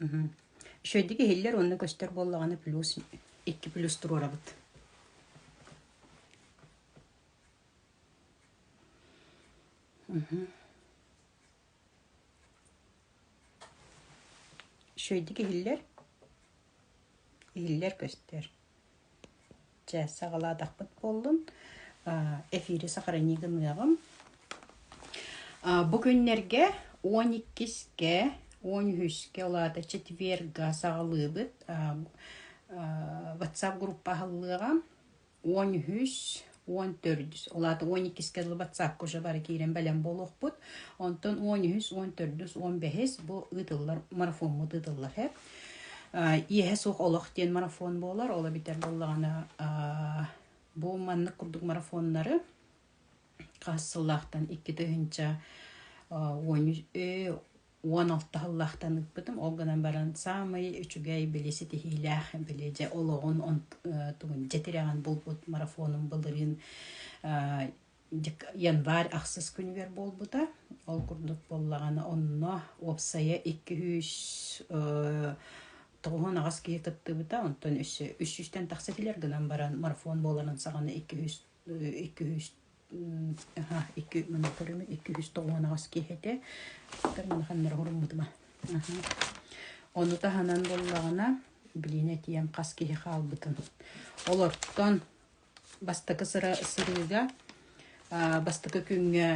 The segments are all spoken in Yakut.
Үчүгэйдик иһиллэр уонна көстөр буоллаҕына плюс икки плюс туруорабыт. Үчүгэйдик иһиллэр иһиллэр-көстөр. Чэ, саҕалаатахпыт буоллун, эфири сохрани гыныаҕым. Бу күннэргэ он иккискэ, он үһүскэ, ол аата четверга саҕалыыбыт, WhatsApp группа аһыллыаҕа. уон үһүс уон төрдүс ол аата уон иккискэ дылы батсаапка уже бары киирэн бэлэм буолуохпут онтон уон үһүс уон төрдүс уон бэһис бу ыытыллар марафоммут ыытыллар эб иэһэ суох олох диэн марафон буолар оло бүтэр буоллаҕына бу маннык курдук марафоннары хас сыллаахтан икки тыһыынча уон үс уон алта сыллаахтан ыыппытым. Ол гынан баран саамай үчүгэй били ситиһиилээх били дьэ олоҕун тугун дьэ тирэҕин булбут марафонум былырыын январь ахсыс күнүгэр буолбута. Ол курдук буоллаҕына онно уопсайа икки сүүс тоҕуһун аҕас киһи кыттыбыта, онтон үс сүүстэн тахса килэр гынан баран марафон буоларын саҕана икки сүүс икки үс аха икки муннуктарым икки үс тоҕуон аҕас киһитэ тар манаханнара хуруммутума ону таһынан буоллаҕына билиэн этиэм хас киһи хаалбытын олортон бастакы сырыыга бастакы күҥҥэ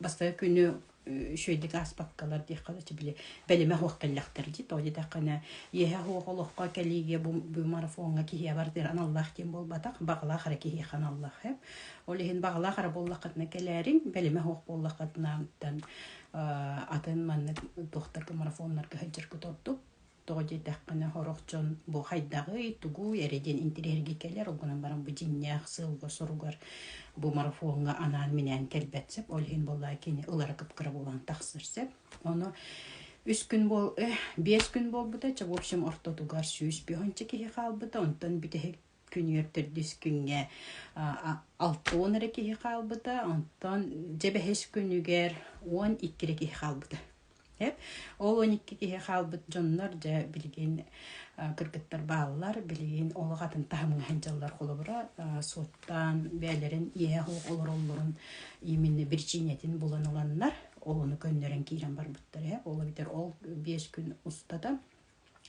Бастакы күнү үчүгэйдик ааспаккалар диэххэ да били бэлэмэ суох кэллэхтэр дии. Тоҕо диэтэххинэ иэһэ суох олоххо кэлиигэ бу бу марафоҥҥа киһиэхэ бардыыр аналлаах диэн буолбатах. Баҕалаах эрэ киһиэхэ аналлаах эб. Ол иһин баҕалаах эрэ буоллаххытына кэлээриҥ, бэлэмэ суох буоллаххытына атын маннык туох да марафоннарга сылдьаргыт ордук. тоҕо диэтэххинэ сорох дьон бу хайдаҕый тугуй эрэ диэн интириэһиргии кэлэр ол гынан баран бу дьиҥнээх сыалга-соруга бу марафоҥҥа анаан-минээн кэлбэт сөп ол иһин буоллаа кини ылара кыпкыра буолан тахсар сөп ону үс күн буол э, биэс күн буолбута чэ в общем ортотугар сүүс биһунча киһи хаалбыта онтон бүтэһик күнүгэр төрдүс күҥҥэ алта уон эрэ киһи хаалбыта, онтон дьэ бэһис күнүгэр уон икки эрэ киһи хаалбыта. Ол он икки киһи хаалбыт дьоннор дьэ билигин кыргыттар бааллар, билигин олох атын таһымҥа сылдьаллар холобура суоттаан бэйэлэрин иэһэ суох олороллорун именно биричиинэтин булан ыланнар, олону көннөрөн киирэн барбыттар. Ол эбэтэр ол биэс күн устата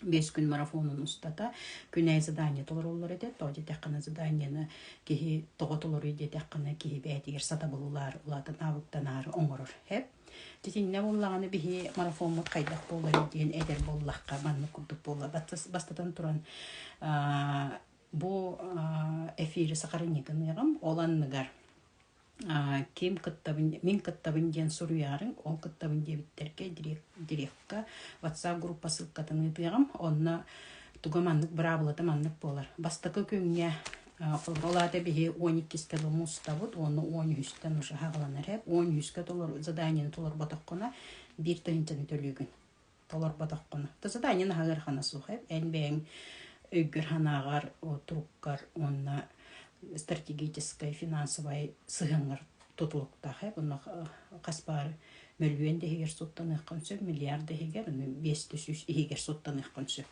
биэс күн марафонун устата күн айы задание толороллор этэ то диэтэххинэ заданиены киһи тоҕо толоруй диэтэххинэ киһи бээтигэр сатабыллаары улаатан аабыттанаары оҥорор хэп Итиннэ буллаҕына биһи марафоммут хайдах буоларый диэн этэр буоллахха маннык курдук буолла бастатан туран бу эфири сахарынньыгыныгам ол анныгар Ким кыттабын, мин кыттабын диэн суруйаары ол кыттабын диэбиттэргэ директка WhatsApp группа ссылкатын ыытыаҕым. Онно туга маннык быраабылата маннык буолар. Бастакы күҥҥэ ол аата биһи он иккискэ дылы мустабыт уонна он үһүстэн уже аһаҕаланар ээ. Он үһүскэ толору заданиены толорботоххуна биир тыһыынчаны төлүүгүн. толорботоххуна то сатаанньан аһыархана суха эн бэйэҥ өйгөр санааҕар туруккар уонна стратегическай финансовай сыһыаҥҥар тутулуктаах онно хас баар мөлүйүөн да иһигэр суттаныаххын сөп миллиард да иһигэр биэс да сүүс иһигэр суттаныаххын сөп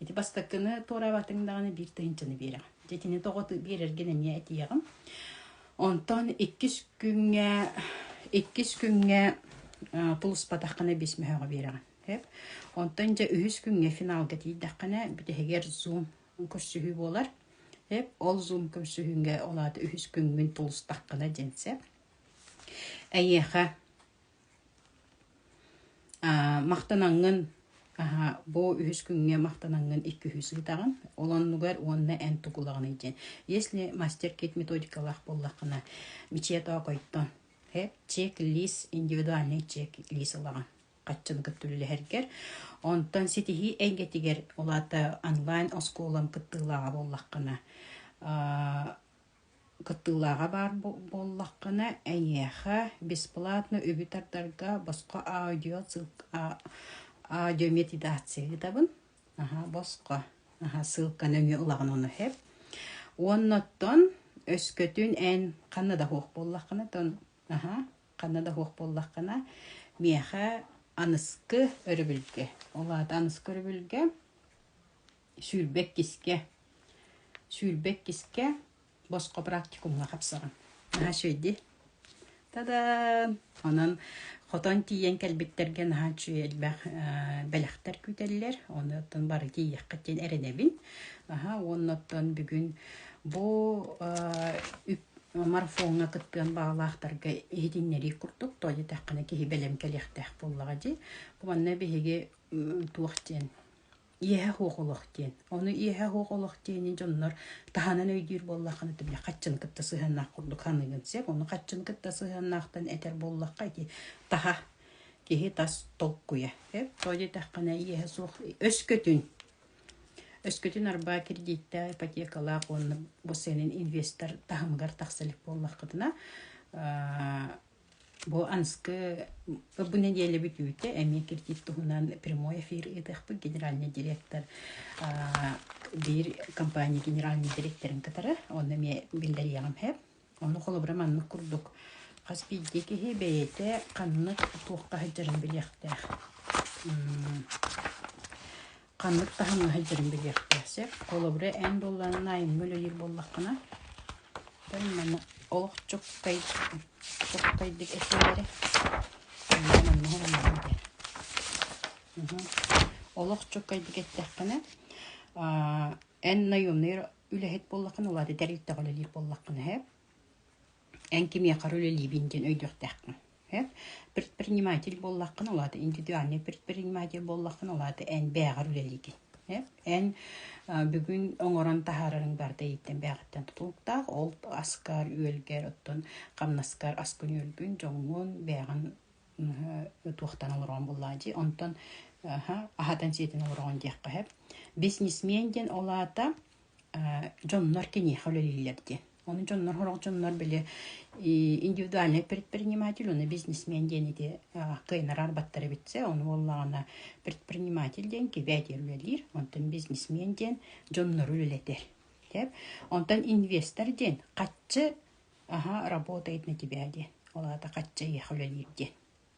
Ити бастакыны туораабатыҥ даҕаны биир тыһынчаны биэрэҕин. Дьэ итини тоҕоту биэрэргин эмиэ этиэҕим. Онтон иккис күҥҥэ иккис күҥҥэ тулуспатаххына бис мөһөҕө биэрэҕин. Сөп? Онтон дьэ үһүс күҥҥэ финалга тиийдэххинэ бүтэһигэр зум көрсүһүү буолар. Сөп? Ол зум көрсүһүүҥҥэ ол аата үһүс күҥҥүн тулустаххына диэн сөп. Эйиэхэ Махтанаҥҥын бу үһүс күҥҥэ махтанаҥҥын иккиһи сыытаҕын. Ол оннугар уонна эн тукулаҕыный диэн. Если мастер-кит методикалаах буоллаххына мечетоокойтон чек-лист, индивидуальный чек-лист ылаҕын хаччыны кытта үлэлэһэргэр. Онтон ситиһии эйгэтигэр, ол аата онлайн оскуолам кыттыылааҕа буоллаххына Кыттыылааҕа баар буоллаххына, эйиэхэ бесплатно үбү тардарга босхо аудиомедитация ыытабын. Аһа, босхо. Аһа, ссылканы эмиэ ылаҕын ону хэп. Уонна оттон өскөтүн эн ханна да суох буоллаххына, тон аһа, ханна да суох буоллаххына, миэхэ аныскы өрөбүлгэ, ол аата аныскы өрөбүлгэ сүүрбэ-иккискэ сүүрбэ-иккискэ босхо практикумҥа хапсарым. Наһаа үчүгэйдии. Тадaan! Онон хотон тиийэн кэлбиттэргэ наһаа үчүгэй элбэх бэлэхтэр күүтэллэр. Ону оттон бары тиийиэххит диэн эрэнэбин. Аһа уонна оттон бүгүн бу марафоҥҥа кыттыан баҕалаахтарга иһитиннэрии курдук, тоҕо диэтэххинэ киһи бэлэм кэлиэхтээх буоллаҕа дии. Бу манна биһиги туох диэн иэһэ суох олох диэн. Ону иэһэ суох олох диэни дьоннор таһынан өйдүүр буоллаххына ты бля хаччын кытта сыһыаннаах курдук ханыгын сеп, ону хаччын кытта сыһыаннаахтан этэр буоллахха ити таһа киһи тас толкуйа. Эп то дитэххинэ иэһэ суох өскөтүн өскөтүн арбаа кредитте ипотекалаах уонна бу сенин инвестор таһымыгар тахса илик буоллаххытына Бу Анскы бу нэдиэлэбит үүтэ эмиэ киртит туһунан прямой эфир ыытыахпыт генеральный директор биир компания генеральный дириэктэрин кытары онно эмиэ биллэриэҕим эһэ ону холобура маннык курдук хас биирдии киһи бэйэтэ ханнык туохха сылдьарын билиэхтээх ханнык таһымнаһыт дьарын билиэхтээх сөп холобура эн буоллаҕына айымҥы үлэлиир буоллаххына бэл манна олохчуккай чуккайдык этиилэри онно маныаһы маныаһы диэн олохчуккайдык эттэххинэ эн наемнай үлэһит буоллаххына улаатытар эрдэҕинэ үлэлиир буоллаххына эн кимиэхэ эрэ үлэлиибин диэн өйдүөхтээххин Эп предприниматель буоллаххына ол аата индивидуальнай предприниматель буоллаххына ол аата эн бэйэҕэр үлэлиигин. Эп эн бүгүн оҥорон таһаарариҥ барыта иһиттэн бэйэҕиттэн тутулуктаах. Ол аскар, үөлгэр, оттон хамнаскар аскын-үөлгүн, дьоҥҥун бэйэҕин туохтан олороҕун буллаҕа дии. Онтон аһатан-сиэтэн олороҕун диэххэ эп. Бизнесмен диэн ол аата дьоннор киниэхэ үлэлииллэр диэн. Оны дьоннор хорох дьоннор били индивидуальный предприниматель уна бизнесмен диэн ити кыйнарар баттар эбитсе ону боллагана предприниматель диэн кибетир үлэлиир онтон бизнесмен диэн дьоннору үлэлэтер деп онтон инвестор диэн каччы аха работает на тебя диэн олата качча еха үлэлиир диэн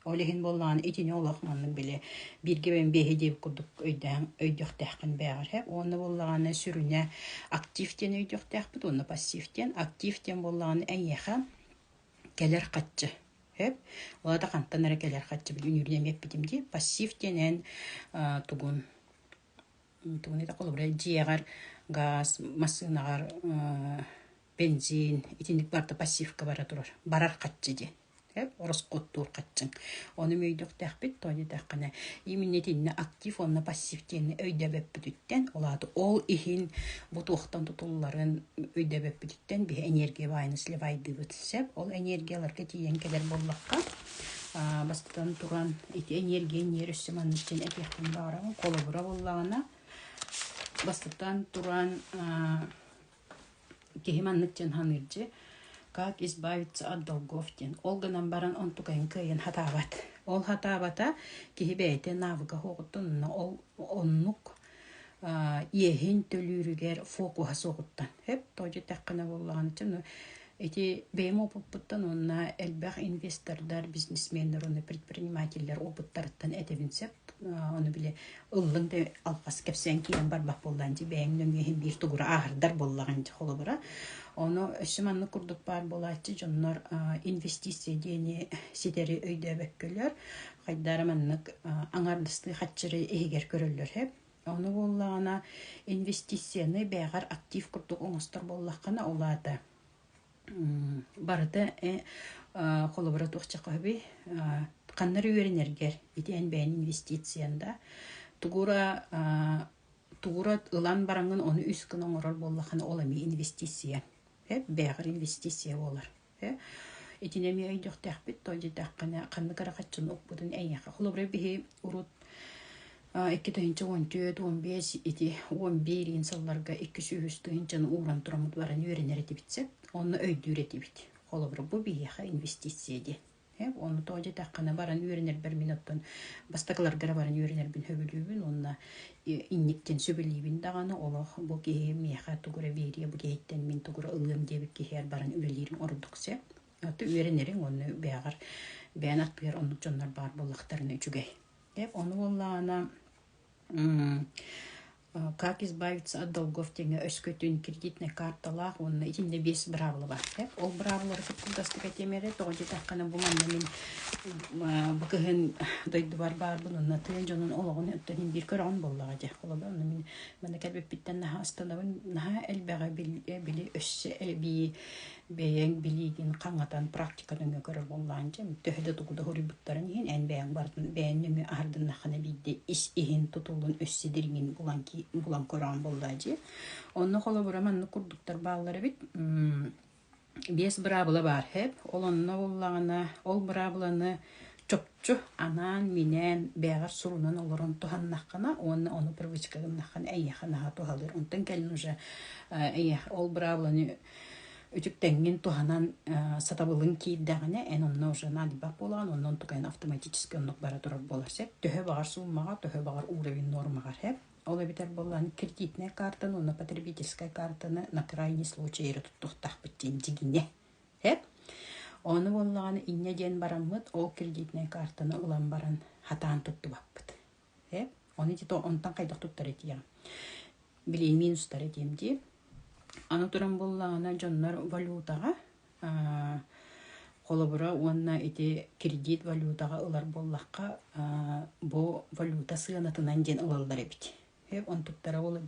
Ол иһин буоллаҕына итини олох маннык били бииргэ бэйэм биэһи диэбит курдук өйдөһөн өйдөхтөөххүн бэҕэрэ. Уонна буоллаҕына сүрүнэ актив диэн өйдüөхтөөхпүт уонна пассив диэн. Актив диэн буоллаҕына эйиэхэ кэлэр хаччы сөп. Ол да хантан эрэ кэлэр хаччы били үнүүрүн эмиэ эппитим дии. Пассив диэн эн аа тугун тугун этэ холобура дьиэҕэр гаас массыынаҕар аа бэнзиин итинник барыта пассивка бара турар барар хаччы диэн. Эп ороскуоттуур хаччыҥ. Ону мөйдөхтөхпүт, тоҕо диэтэххинэ, именно итиннэ актив уонна пассив диэни өйдөбөппүтүттэн, ол аата ол иһин бу туохтан тутулларын өйдөбөппүтүттэн биһи энергия баайын сливайдыыбыт сөп. Ол энергияларга тиийэн кэлэр буоллахха, аа, бастатан туран, ити энергия инниэр өссө маннык дьин этиэхпин баҕарабын. Холобура буоллаҕына, бастатан туран, аа, киһи маннык дьон саныырдьы как избавиться от долгов диэн ол гынан баран онтукайын кыайан сатаабат ол сатаабата киһи бэйэтэ навыга суоҕуттан онно ол оннук иэһин төлүүрүгэр фокуһа суоҕуттан өп то дьэтэххинэ буоллаҕына Ити бэйэм опыппыттан уонна элбэх инвестордар, бизнесменнэр уонна предпринимателлэр опыттарыттан этэбин сөп. Ону били ыллыҥ да албас кэпсээн киирэн барбат буоллаҕа ити бэйэҥ нөҥүө иһин биир тугура ааһардар буоллаҕа ини холобура. Ону өссө маннык курдук баар буолааччы дьоннор инвестиция диэни ситэри өйдөөбөккөлөр. Хайдара маннык аҥардастыы хаччыры иһигэр көрөллөр үһү. Ону буоллаҕына, инвестицияны бэйэҕэр актив курдук оҥостор буоллаххына, ол аата барыта холобура туох чахаһыый ханнары үөрэнэргэр ити эн бэйэҥ инвестициян да тугура тугура ылан бараҥҥын ону үс гына оҥорор буоллаххына ол эмиэ инвестиция бэйэҕэр инвестиция буолар Итини эмиэ өйдөхтөхпүт, то дитэххинэ, ханнык эрэ хаччыны укпутун эйиэхэ. Холобура, биһи урут икки тыһыынча уон түөрт, уон биэс ити уон биэриин сылларга икки сүүс тыһыынчаны ууран тураммыт баран үөрэнэр этибит сөп, онно өйдүүр этибит. Холобура, бу биһиэхэ инвестиция диэн. Ону то дьэтэххинэ баран үөрэнэрбэр мин оттон бастакыларга эрэ баран үөрэнэрбин сөбүлүүбүн уонна инниктин сөбүлүүбүн даҕаны олох бу киһи миэхэ тугу эрэ биэриэ бу киһиттэн мин тугу эрэ ылыам диэбит киһигэр баран үлэлиирим ордук сөп. Аты үөрэнириҥ уонна бэйэҕэр бэйэн аттыгар оннук дьоннор баар буоллахтарына үчүгэй. Ону буоллаҕына Как избавиться от долгов тэҥэ өскөтүн кредитнай карталаах уонна итиннэ биэс быраабылаба. Эп ол быраабылалары кытта удастык этиэм эрэ, тоҕо диэтэххинэ бу манна мин бу кыһын дойдубар баарбын уонна тыа дьонун олоҕун өттүнэн биир көрөҕүн буоллаҕа дии. Холобур онно мин манна кэлбиппиттэн наһаа астынабын. Наһаа элбэҕи били өссө эбии бэйэҥ билиигин хаҥатан практиканы нө көрө буоллаан дьэм төһө да тугу да хоруйбуттарын иһин эн бэйэҥ барытын бэйэн нөҥүө аһардыннаххына биирдии ис иһин тутулун өссө дириҥин булан ки булан көрөөн буоллаа дии онно холобура маннык курдуктар бааллар эбит биэс быраабыла баар хэп ол онно буллаҕына ол быраабыланы чопчу анаан минээн бэҕэр сурунан олорон туһаннаххына уонна ону привычка гыннаххына эйиэхэ наһаа туһалыыр онтон кэлин уже эйиэхэ ол быраабыланы Үтүктеҥҥин туһанан сатабылын киирдэҕинэ, эн онно уже надьба буолаҕын, онон туган автоматически оннук бара турар буолар сөп. Төһө баҕар суммаҕа, төһө баҕар уровень нуормаҕар сөп. Ол эбэтэр буоллаан кредитнай картаны, уонна потребительскай картаны на крайний случай эрэ туттуохтаахпыт диэн дьигинэ сөп. Ону буоллаҕына инньэ диэн бараммыт ол кредитнай картаны ылан баран хатаан туттубаппыт. Э? Оны ити онтон хайдах туттар этием. Билиин минус тар этием дии. Аны туран буллаҕына дьоннор валютаҕа холобура уонна ити кредит валютаҕа ылар буоллахха бу валюта сыанатынан диэн ылаллар эбит. Он туттара ол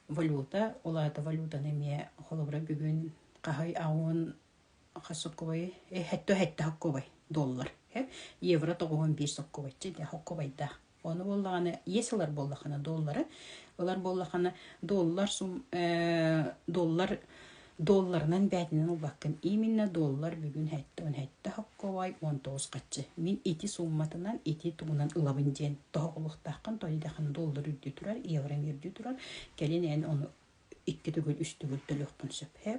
валюта, ол аата валютаны эмиэ холобура бүгүн хаһай аҕын Сокуобай хэттэ хэттэ сокуобай дуоллар. Евро тоҕуһун биир сокуобайча дьэ сокуобайдаах. Ону буоллаҕына иэс ылар буоллаххына дуоллары ылар буоллаххына дуоллар сум дуоллар дуолларынан бээтинэн ылбаккын именно дуоллар бүгүн хэттэ он хэттэ сокуобай он тоҕус хаччы мин ити суумматынан ити тугунан ылабын диэн тоһоҕолуохтааххын тоойдахын дуоллар үрдүү турар евроҥ үрдүү турар кэлин эн ону икки төгүл үс төгүл төлүөхпүн сөп ээ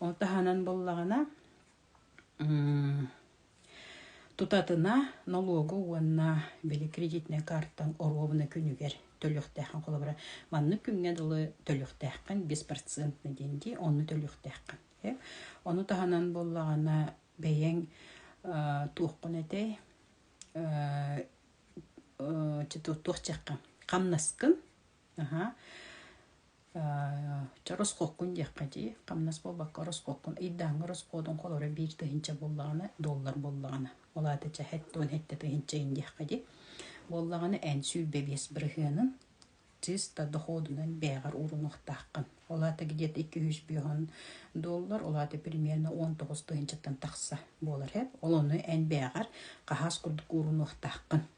ол таһынан буоллаҕына тутатына нолуогу уонна били кредитнай каартаҥ оруобуна күнүгэр төлүөхтээххин холобура маннык күҥҥэ дылы төлүөхтээххин беспрецентный диэн дии онну төлүөхтээххин э ону таһынан буоллаҕына бэйэҥ туоххун этэй туох дьиэххин хамнаскын Ча ороскуоккун диэххэ дии, хамнас буолбакка ороскуоккун ыйдааҥҥа ороскуотун холоро биир тыһыынча буоллаҕына, доллар буоллаҕына, ол аата ча һэт уон һэттэ тыһыынчайын диэххэ дии. Буоллаҕына эн сүүс бэбиэс бырыһыанын чисто дохуодунан бэйэҕэр уурунуохтааххын. Ол аата где-то икки үһүс бүөһүн доллар, ол аата примерно он тоҕус тыһыынчаттан тахса буолар эбит. Ол ону эн бэйэҕэр хаһаас курдук уурунуохтааххын.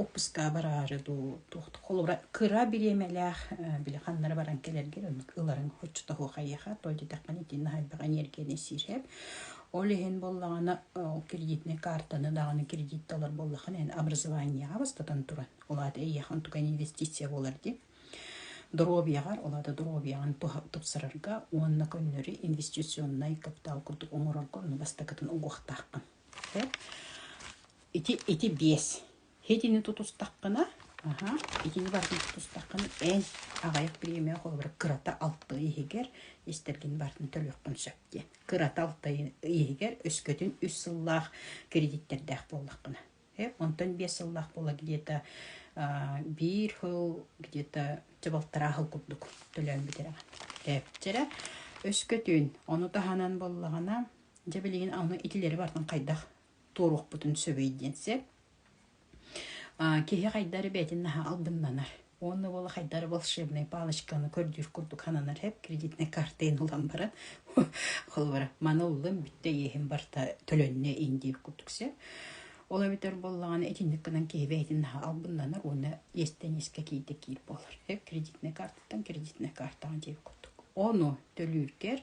Уоппускаҕа бараары дуу, холобура кыра бириэмэлээх били ханнары баран кэлэргэр ыларыҥ оччотооҕу хайыаха, тоҕо диэтэххинэ итии наһаайдах эниэргийэни сиир. Ол иһин буоллаҕына ол кредитнэй каартаны даҕаны кредит талар буоллаххына эн образованиеҕа бастатан туран, ол аата эйиэхэ онтука инвестиция буолар дии. Доруобуйаҕар, ол аата доруобуйаҕын тупсарарга уонна көннөрү инвестиционнай капитал курдук оҥорорго ону бастакытын угуохтааххын. Ити, ити биэс. Итини тутустаххына, аһа, итини барытын тутустаххына, эн аҕыйах бириэмэҕэ холобура кырата алты иһигэр истэргин барытын төлүөххүн сөп диэн. Кырата алты иһигэр өскөтүн үс сыллаах кредиттэрдээх буоллаххына. Э, онтон биэс сыллаах буола где-то биир хыл где-то дьабалтараа хыл курдук төлөөн бүтэрэҕин. Ээпчэрэ өскөтүн, ону таһынан буоллаҕына, дьэ билигин аны итилэри барытын хайдах туоруохпутун сөбүй диэн сөп. Киһи хайдары бэйэтин наһаа албыннанар. Уонна буола хайдары волшебной палочканы көрдүүр курдук хананар хэп кредитной картайын ылан баран холобура маны ыллым бүтте иэһин барта төлөннө индиев курдук сэ ол эбитэр боллаҕана итинник гынан киһи бэйэтин наһаа албыннанар уонна иэстэнискэ киирдэ киир буолар хэп кредитной картаттан кредитной картаҕа диэбит курдук ону төлүүргэр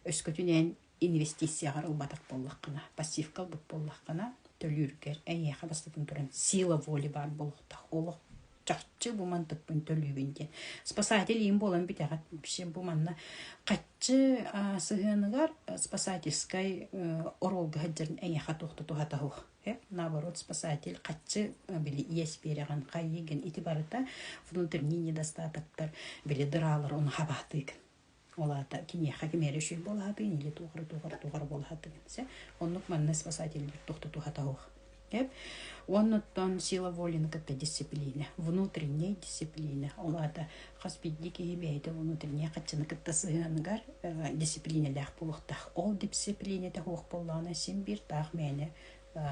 өскөтүнэн инвестицияҕар ылбатах буоллаххына, пассивка ылбыт буоллаххына, төлүүргэр эйиэхэ бастатан туран сила воли баар буолуохтаах. Олох чахчы бу мантыкпын төлүүбүн диэн. Спасатель иим буолан бүтэҕит. Вообще бу манна хаччы сыһыаныгар спасательскай оруолга сылдьарын эйиэхэ туох да туһата суох. Наоборот, спасатель хаччы били иэс биэрэҕин хайыгын ити барыта внутренний недостатоктар били дыраалар оны хабаатыыгын. Ол аата киниэхэ ким эрэ үчүгэй буолаатын или туох эрэ туох эрэ туох эрэ буолаһаатыгын сэ оннук манна спасательбыт тохтотуха таһуох деп оннуттан сила воли кытта дисциплина внутренняя дисциплина ол аата хас биирдии киһи бэйэтэ внутренняя хаччыны кытта сыһыаныгар дисциплинэлээх буолуохтаах ол дисциплина таһуох буоллаҕына син биир таах мээнэ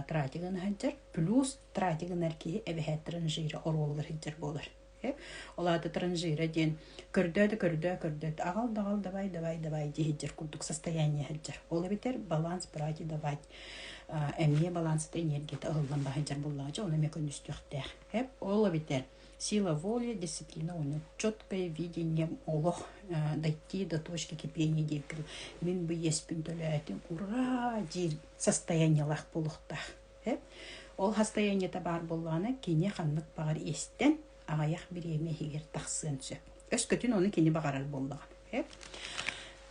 тратигын сылдьар плюс тратигынар киһи эбэһээт транжира оруолугар сылдьар буолар Ол аата транжира диэн көрдөөтө көрдөө көрдөөтө аҕал даҕал давай давай давай дии сылдьар курдук состояние сылдьар. Ол эбэтэр баланс брать давать эмиэ балансата энергията ылыллан баһыйдьар буллаҕа дьэ ону эмиэ көннүстүөхтээх. Эп ол эбэтэр сила воли, дисциплина уонна четкое видение олох дойти до точки кипения диир курдук мин бы иэспин төлөөтүм ура диир состояниелаах буолуохтаах Ол хастайанньыта баар буоллаҕына кини ханнык баҕар истэн аҕыйах бириэмэ иһигэр тахсыан сөп. Өскөтүн ону кини баҕарар буоллаҕа.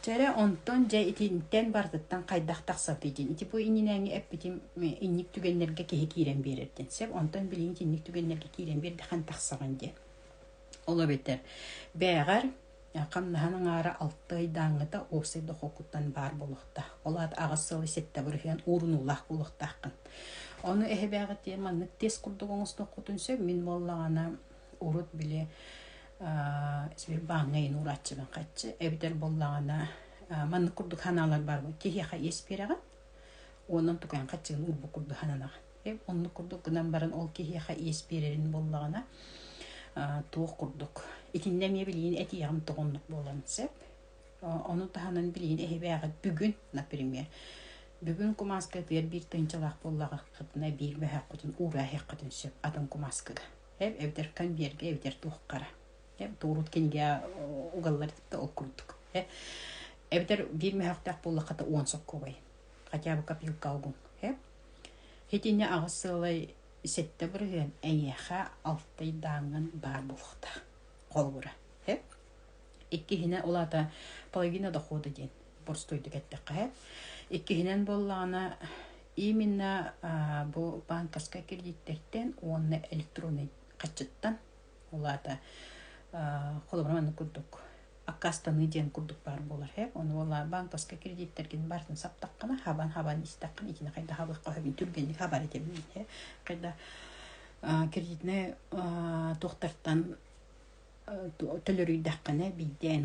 Чэрэ онтон дьэ итинтэн барытыттан хайдах тахсабыт дин ити бу иннинээҥҥи эппитим инник түгэннэргэ киһи киирэн биэрэрдин сөп онтон билигин итинник түгэннэргэ киирэн биэрдэхэн тахсаҕын диэн ол эбэтэр бээҕэр хамнаһын аҥаара алта ыйдааҥыта уопсай дохуоккуттан баар буолуохтаах. Ол аата аҕыс сылы сэттэ бырыһыан уурунуулаах буолуохтааххын. Ону эһэбээҕитиэ маннык тест курдук оҥостуоххутун сөп. Мин буоллаҕына урут били сбербааҥҥа иһин уурааччыбын хаччы эбэтэр буоллаҕына маннык курдук санаалар баар буолуо киһиэхэ иэс биэрэҕин онон тукайан хаччыгын уурбут курдук сананаҕын Оннук курдук гынан баран ол киһиэхэ иэс биэрэрин буоллаҕына туох курдук. Итиннэ эмиэ билигин этиэҕим тоҕоннук буолан сөп. Ону таһынан билигин эһибээҕит бүгүн, например, бүгүн кумааска тыар биир тынчылаах буоллаҕытына биир бэһэххитин уураһыаххытын сөп атын кумааскыга. Эб эбэтэр конверге эбэтэр туоххара. Эб туурут кинигэ угаллар да ол курдук. Эбэтэр биир мөһөхтөөх буоллахата уон соккубай. Хотя бы копилка алгун. Эб Итини аҕыс сыалай сэттэ бырыһыан эйиэхэ алтайдааҥҥын баар буолуохта. Холобура, иккиһинэ ол аата половина дохода диэн боростуойдук эттэххэ. Иккиһинэн буоллаҕына именно бу баанкаска кредиттэртэн уонна электроннай хаччыттан улаата холобура маннык курдук аккаастаныы диэн курдук баар буолар һэ ону уола банковскай кредиттэргин бартын саптаххына хабан хабан истэххин итини хайда хабыахха сөбүн түргэнник хабар этэбин һэ хайда кредитнай туохтартан төлөрүйдэххинэ биирдэ эн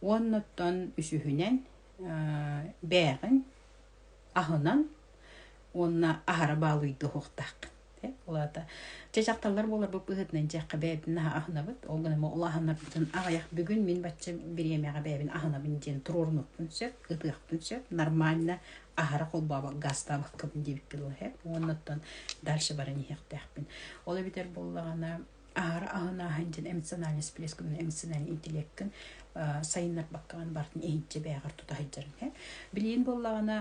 Уоннуттан үсүһүнэн бээҕин аһынан уонна аһара баалыйдыһуохтааххын. Ол аата чэ дьахталлар буоларбыт быһыытынан дьиэххэ бэйэбитин аһынабыт. Ол гынан ол аһынабытын аҕыйах бүгүн мин бачча бириэмэҕэ бэйэбин аһынабын диэн туруорунуохпун сөп, ытыахпын сөп. Нормально аһара холбообоккабын диэбит буолуо уоннуттан дальше баран иһиэхтээхпин. Ол эбэтэр буоллаҕына аһара аһын ааһан дьин эмоциональный всплескун эмоциональный интеллеккин сайыннарбаккаҕын бартын иһинчи бэйэҕэр тута сылдьарын һэ билигин буоллаҕына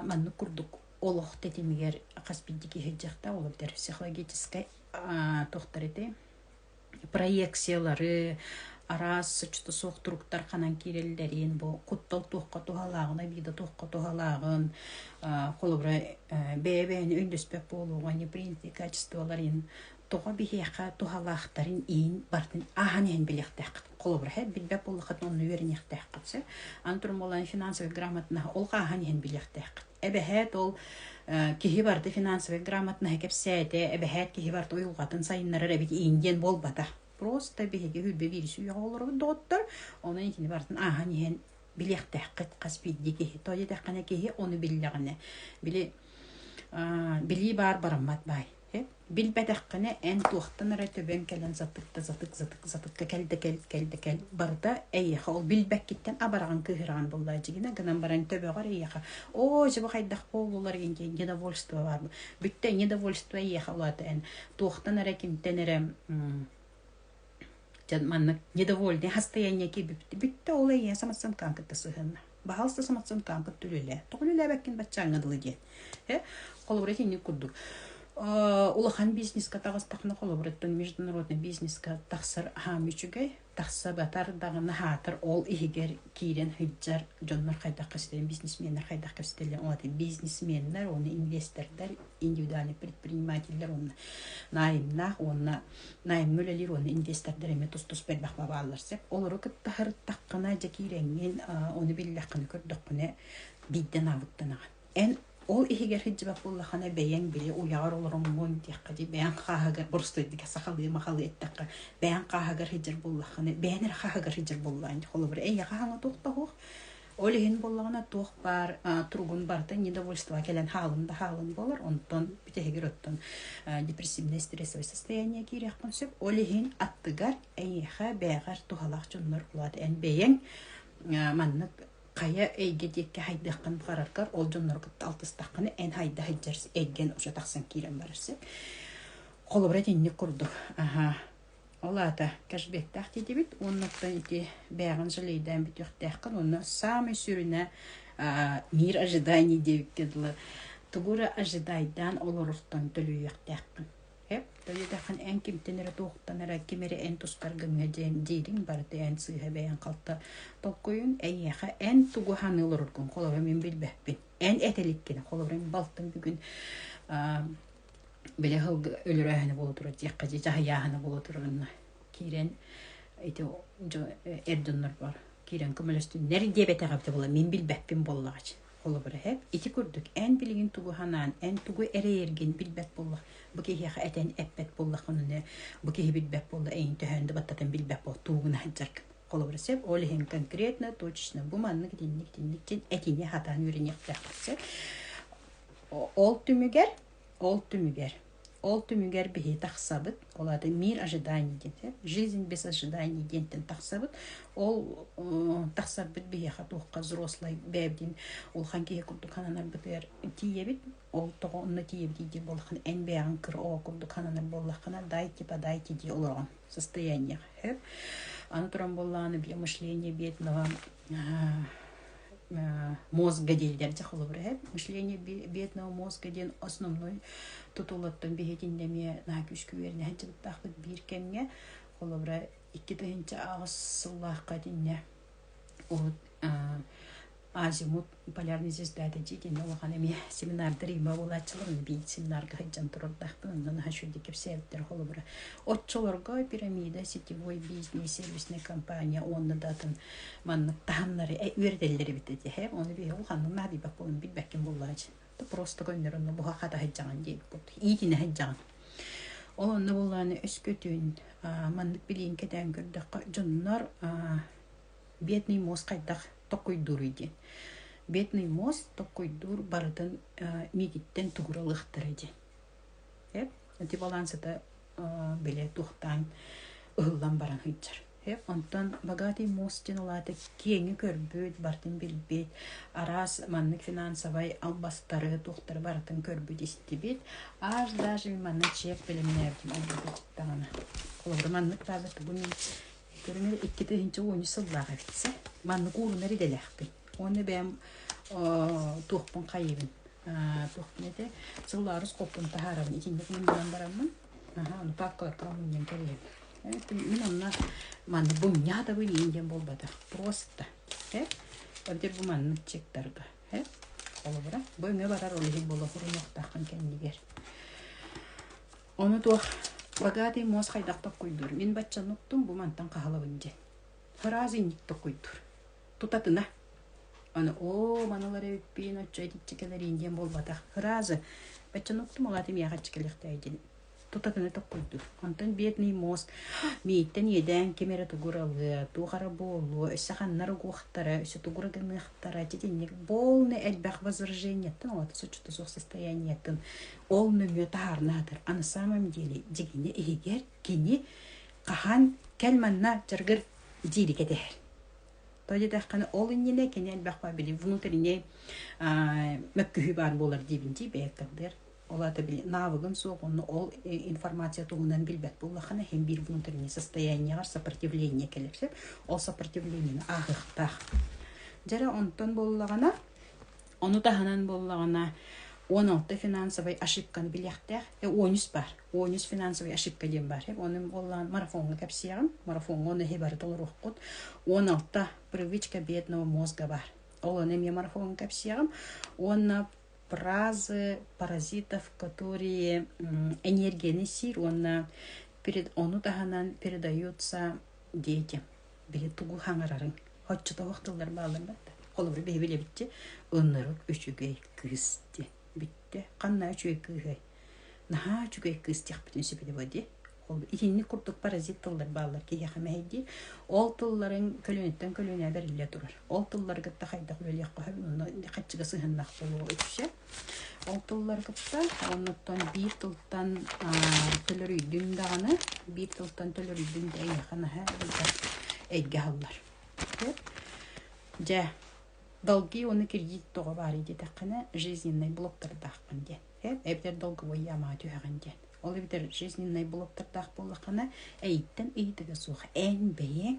маннык курдук олох тэтимигэр хас биирдики сылдьыахта ол битэр психологическай тохтор ити проекциялары араас соччото суох туруктар ханан киирэллэрин бу куттал туохха туһалааҕына биида туохха туһалааҕын холобура бэйэ бэйэни өйдөспөт буолууга неприятие качестволарын тоҕо биһиэхэ туһалаахтарын иин барытын ааһан иһэн билиэхтээххит. Холобур, һэр билбэт буоллаххыт онно үөрэниэхтээххит сөп. Аны туран буолан финансовай грамотнаһа ол ааһан иһэн билиэхтээххит. Эбэһээт ол киһи барыта финансовай грамотнаһа кэпсээтэ, эбэһээт киһи барыта уйулҕатын сайыннарар эбит иин диэн буолбата. Просто биһиги хүрбэ вирус үйэҕэ олоробут доҕоттор, онон кини барытын ааһан иһэн билиэхтээххит хас биирдии киһи. Тоҕо диэтэххинэ киһи ону биллэҕинэ, били билии баар бараммат баай. Билбэтэххинэ эн туохтан эрэ төбөҥ кэлэн затыкта затык затык затыкка кэл да кэл кэл да кэл барыта эйиэхэ ол билбэккиттэн абараҕын кыыһыраҕын буоллаҕа дьигинэ гынан баран төбөҕөр эйиэхэ оо чего хайдах буоллулар инде недовольство баар бүттэ недовольство эйиэхэ улаата эн туохтан эрэ кимтэн эрэ Дьэ маннык недовольный хастаяние кибипти бүттэ ол эйэ саматсан каан кытта сыһынна. Баһалста саматсан каан кытта үлэлээ. Тоҕон үлээбэккин баччааңа дылы диэн. Э холобура итинник курдук улахан бизнеска таҕыстахна холобуруттан международный бизнеска тахсар аһаам үчүгэй тахса батар даҕаны хаатар ол иһигэр киирэн сылдьар дьоннор хайдах кэстэлэн бизнесменнэр хайдах кэстэлэн ол бизнесменнэр уонна инвестордар индивидуальный предпринимателлэр уонна наайымнаах уонна Найымҥа үлэлиир уонна инвестордар эмиэ тус-туспа элбэх бабааллар сөп. Олору кытта сырыттаххына, дьэ киирэҥҥин, ону биллэххинэ, көрдөххүнэ, биирдэн аабыттанаҕын. Эн ол иһигэр сылдьыбат буоллаххына, бэйэҥ били уйаҕар олороҥмун диэххэ дии, бэйэҥ хааһыгар, боростуойдука сахалыы-махалыы эттэххэ, бэйэҥ хааһыгар сылдьар буоллаххына, бэйэҥ эрэ хааһыгар сылдьар буоллаҕын. Холобур, эйиэхэ хаҥатыах-таһыах, Ол иһин буоллаҕына туох баар туругун барыта недовольство кэлэн хаалын да хаалын буолар. Онтон бүтэһигэр оттон депрессивнай стрессовое состояние киириэхпин сөп. Ол иһин аттыгар эйиэхэ бэйэҕэр туһалаах дьоннор улаат эн бэйэҥ маннык хайа эйгэ диэкки хайдыаххын баҕараргар ол дьоннору кытта алтыстаххына эн хайда сылдьар эйгэн уже тахсан киирэн барар сөп. Холобура итинник курдук аха Ол аата кэшбиэттээх тиитибит уонна оттон ити бээҕин жалейдаан бүтүөхтээххин уонна саамай сүрүнэ аа мир ожиданий диэбиккэ дылы тугу эрэ ожидайдаан олорортон төлүйүөхтээххин. Эп төлүөтэххин эн кимтэн эрэ туохтан эрэ ким эрэ эн тустар гымҥа диэн диириҥ барыта эн сыыһа бэйэҥ халта толкуйун эйиэхэ эн тугу саныы олороргун холобура мин билбэппин эн этэ иликкин холобура мин балтым бүгүн аа Били сылгы өлөрөөһүнэ буола турар диэххэ дии, дьаһыйааһына буола турарына киирэн ити дьо эр дьоннорбор киирэн көмөлөстүннэр диэбэтэҕэ эбитэ буоллар мин билбэппин буоллаҕа холобура эһэм ити курдук эн билигин тугу санаан эн тугу эрэйэргин билбэт буоллах бу киһиэхэ этэн эппэт буоллаххына бу киһи билбэт буолла эйиҥ төһөөн да баттатан билбэт буол тугуна сылдьаргын холобура сөп ол иһин конкретно точечно бу маннык итинник итинник диэн этини сатаан үөрэниэхтээх сөп Ол түмүгэр, ол түмүгэр, ол түмүгэр биһи тахсабыт, ол аата мир ожиданий диэн, жизнь без ожиданий диэнтэн тахсабыт. Ол тахсарбыт биһиэхэ туохха взрослый бэйэбдин улахан киһи курдук хананарбытыгар тиийэбит. Ол тоҕо онно тиийэбитий дии буоллаххына эн бэйэҕин кыр ол курдук хананар буоллаххына дайте подайте дии олоргон состояние. Аны туран буоллаҕына бьемышление биэтин мозга дииллэр дьэ холобур эһэт мышление бедного мозга диэн основной тутулуттан биһитиннэ эмиэ наһаа күүскү үөрнэһэн дьылыктаахпыт биир кэмҥэ холобура икки тыһыынча аҕыс сыллаахха итиннэ урут азимут полярный звездата дьиэтинэ улахан эмиэ семинардар има буолааччыларын биир семинарга сылдьан турардахпын онно наһаа шүрдэ кэпсээбиттэр холобура оччолорго пирамида сетевой бизнес сервисная компания уонна да атын маннык таһымнары үөрэтэллэр эбит дии оны биһи ол ханнык наадыйбат буолан билбэккин буоллар дьин просто көннөрүн буха хатаһыджаҕын диэбиппут иитинэһэджаҕын ол онно буоллааны өскөтүн маннык билиин кэтээн көрдөххө дьоннор бедный мозг хайдах токкуйдууруй диэн бедный мозг токкуйдуур барытын миититтэн тугуралыахтара диэн ити балансыта билэ туохтаан ыһыллан баран сылдьар. Онтон «Богатый мост» диэн улаата киэҥи көрбүт, барытын билбит, араас маннык финансовай албастары, туохтары барытын көрбүт-истибит. Аж даже манна чек бэлэмнээбитим ордук даҕаны. Холобура маннык баалар тугун мин көрүҥэр икки тыһыынча уонча сыллаах эбит сэ. Маннык уурунар идэлээхпин. Оны бэм туохпун қайыбын. Туохпун эте сыллаарыс қоппун тахарабын. Итинник мун билан бараммын. Аха, ну пак кылаттаҕым мен кэлиэм. Мин онна маннык бу ньаатабын иин диэн буолбатах. Просто. Хэ? Ордер бу маннык чектарга. Хэ? Холобура. Бу өҥө барар ол иһин болохурунуохтааххын кэннигэр. Оны туох богатый мос хайдах токкуйдур. Мин баччануктум бу мантан хаһалабын дьен. Фразинник токкуйдур. тутатына аны оо манылар эбиппин оччо итиччэ кэлэриин диэн буолбатах фраза баччан уктум аҕаатым яхаччы кэлиэхтээх диэн тутатына токкуйдур онтон бедный мост мииттэн иэдээн ким эрэ тугуралыа туох эрэ буолуо өссө ханнар угуохтара өссө тугура гыныахтара итинник полный элбэх возраженияттан оҕото соччото суох состояниеттан ол нөҥүө таһаарнаатыр а на самом деле дьиҥинэ иһигэр кини хаһан кэл манна жаргыр дииргэ дэһэр. Тоҕо диэтэххинэ, ол иннинэ кини элбэхпэ били внутренний мөккүһүү баар буолар диибин дии бэйэттэн бэр. Ол аата били навыгын суох онно ол информация туһунан билбэт буоллаххына һин биир внутренний состояниеҕар сопротивление кэлэр сөп. Ол сопротивлениены ааҕыахтаах. Дьэрэ онтон буоллаҕына Ону таһынан буоллаҕына, уон алта финансовай ошибканы билиэхтээх. Э, он үс баар. Он үс финансовай ошибка диэн баар. Э, ону буоллаҕына марафоҥҥа кэпсиэҕим. Марафоҥҥа ону эһи бары толоруоххут. Он алта привычка бедного мозга бар. Ол ону эмиэ марафоҥҥа кэпсиэҕим. Уонна фразы паразитов, которые энергияны сиир уонна перед, ону таһынан передаются дети. биһи тугу хаҥарарыҥ оччотоох тыллар бааллар да холобура биһи билэбитчи оннору үчүгэй кыыс ди бүттэ ханна үчүгэй кыыһай наһаа үчүгэй кыыс диэхпитин сөбүлэ бу ди ол итинник курдук паразит тыллар бааллар киһиэхэ мэһэйдии ол тылларын көлүөнэттэн көлүөнэ бэриллэ турар ол тыллары кытта хайдах үлэлиэххэ сөп онно хаччыга сыһыннах болуо үтүшэ Ол тыллары кытта оннуттан биир тылтан төлөрүйдүҥ даҕаны, биир тылтан төлөрүйдүҥ да эйиэхэ наһаа элбэх эйгэ аһыллар. Сөп? Дьэ, долги уонна кредит тоҕо баарый диэтэххинэ, жизненный блоктардааххын диэн. Сөп? Эбэтэр долговой яамаҕа түһэҕин диэн. Ол эбэтэр жизненный блоктардаах буоллаххына, эйиттэн ыйытыга суох эн бэйэҥ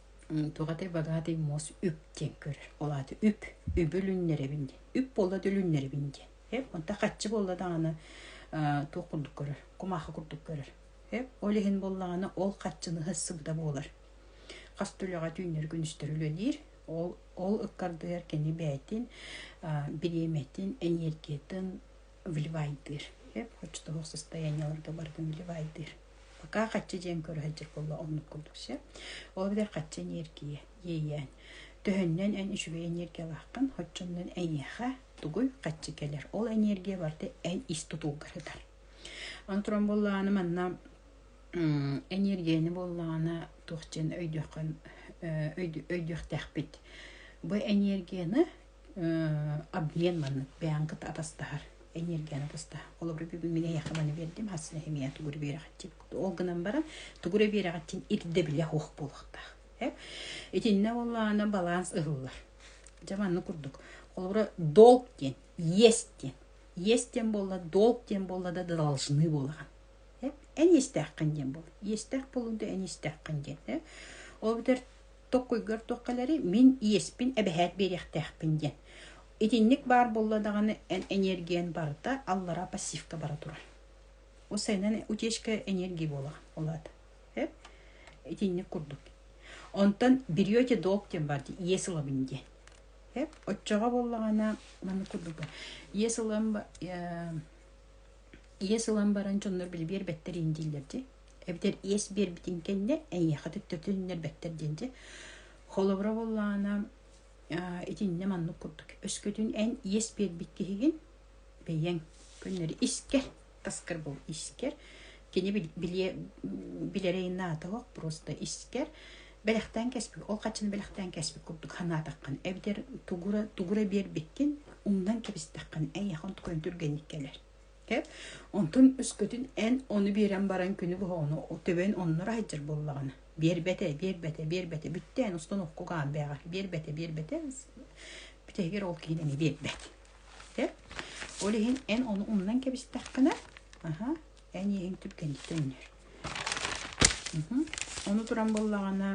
туохатай бадаатый муос үп диэн көрөр ол аата үп үбү өлүннэрэбин диэн үп буолла да өлүннэрэбин диэн эп онто хаччы буолла даҕаны туох курдук көрөр кумаахы курдук көрөр эп ол иһин буоллаҕына ол хаччыныһы сыбыда буолар хас түлэҕэ түүннэр күнүстэр үлэлиир ол ол ыккардыгар кини бэйэтин бириэмэтин энергиятын вливайдыыр. Эп, оччотооҕу состояниеларга барытын вливайдыыр. Пока хаччы дьиэн көрө сылдьар буолла оннук курдук сеп. Ол битэр хаччы энергия иэйээн. Төһөннөн эн үчүгэй энергиялааххын, оччоннон эйиэхэ тугуй хаччы кэлэр. Ол энергия барыта эн ис тутулгарытар. Онтрон буоллааны манна энергияны буоллаана туохчен өйдүөххүн өйдүөхтээхпит. Бу энергияны обмен маннык бэйаҥ кыта атастаһар энергияны атастаһар холобура мин эйэхэ маны биэрдим хасына химия тугура биэрэҕитин ол гынан баран тугура биэрэҕитин ирдэ билэ суох буолуохтаах итиннэ боллаана баланс ыһыллар дьэ манны курдук холобура долг диэн есть диэн есть диэн буолла долг диэн буолла да должны буолаҕын эн истээххин диэн буол истэх болуунда эн истээххин диэн ол бүтэр Токкуйгар туох кэлэри мин иэспин эбэһээт биэриэхтээхпин диэн. Итинник баар буолла даҕаны, эн эниэргийэн барыта аллараа пассивка бара турар. Усайынан утечка энергии буолаҕа улаата. Э? Итинник курдук. Онтон берете долг диэн бар дии, иэс ылабын диэн. Эп, оччоҕо буоллаҕына, маны курдук иэс ылан э, иэс ылан баран дьоннор били биэрбэттэр иин дииллэр дии эбэтэр иэс биэрбитин кэннэ эйиэхэ төттөрүтүннэрбэттэр диэн дьэ холобура буоллаҕына итиннэ маннык курдук өскөтүн эн иэс биэрбит киһигин бэйэҥ көннөрү искэр таскар бол искэр кини билиэ билэрэ инаатылах просто искэр Бэлэхтээн кэспит, ол хаччыны бэлэхтээн кэспит курдук санаатаххын, эбэтэр тугура, тугура биэрбиккин, умнан кэбистэххин, эйиэхэ онтукайын түргэнник кэлэр. Э? Онтун өскөтүн эн ону биэрэн баран күнү быһа ону төбөн оннура сылдьар буоллаҕына, биэрбэтэ, биэрбэтэ, биэрбэтэ, бүттэ эн устан окко гаан бэҕэр, биэрбэтэ, биэрбэтэ, бүтэһигэр ол киһи дэни биэрбэт. Э? Ол иһин эн ону умнан кэбистэххинэ, аха, эн иэһиҥ түргэнниттэн үнэр. Ону туран буоллаҕына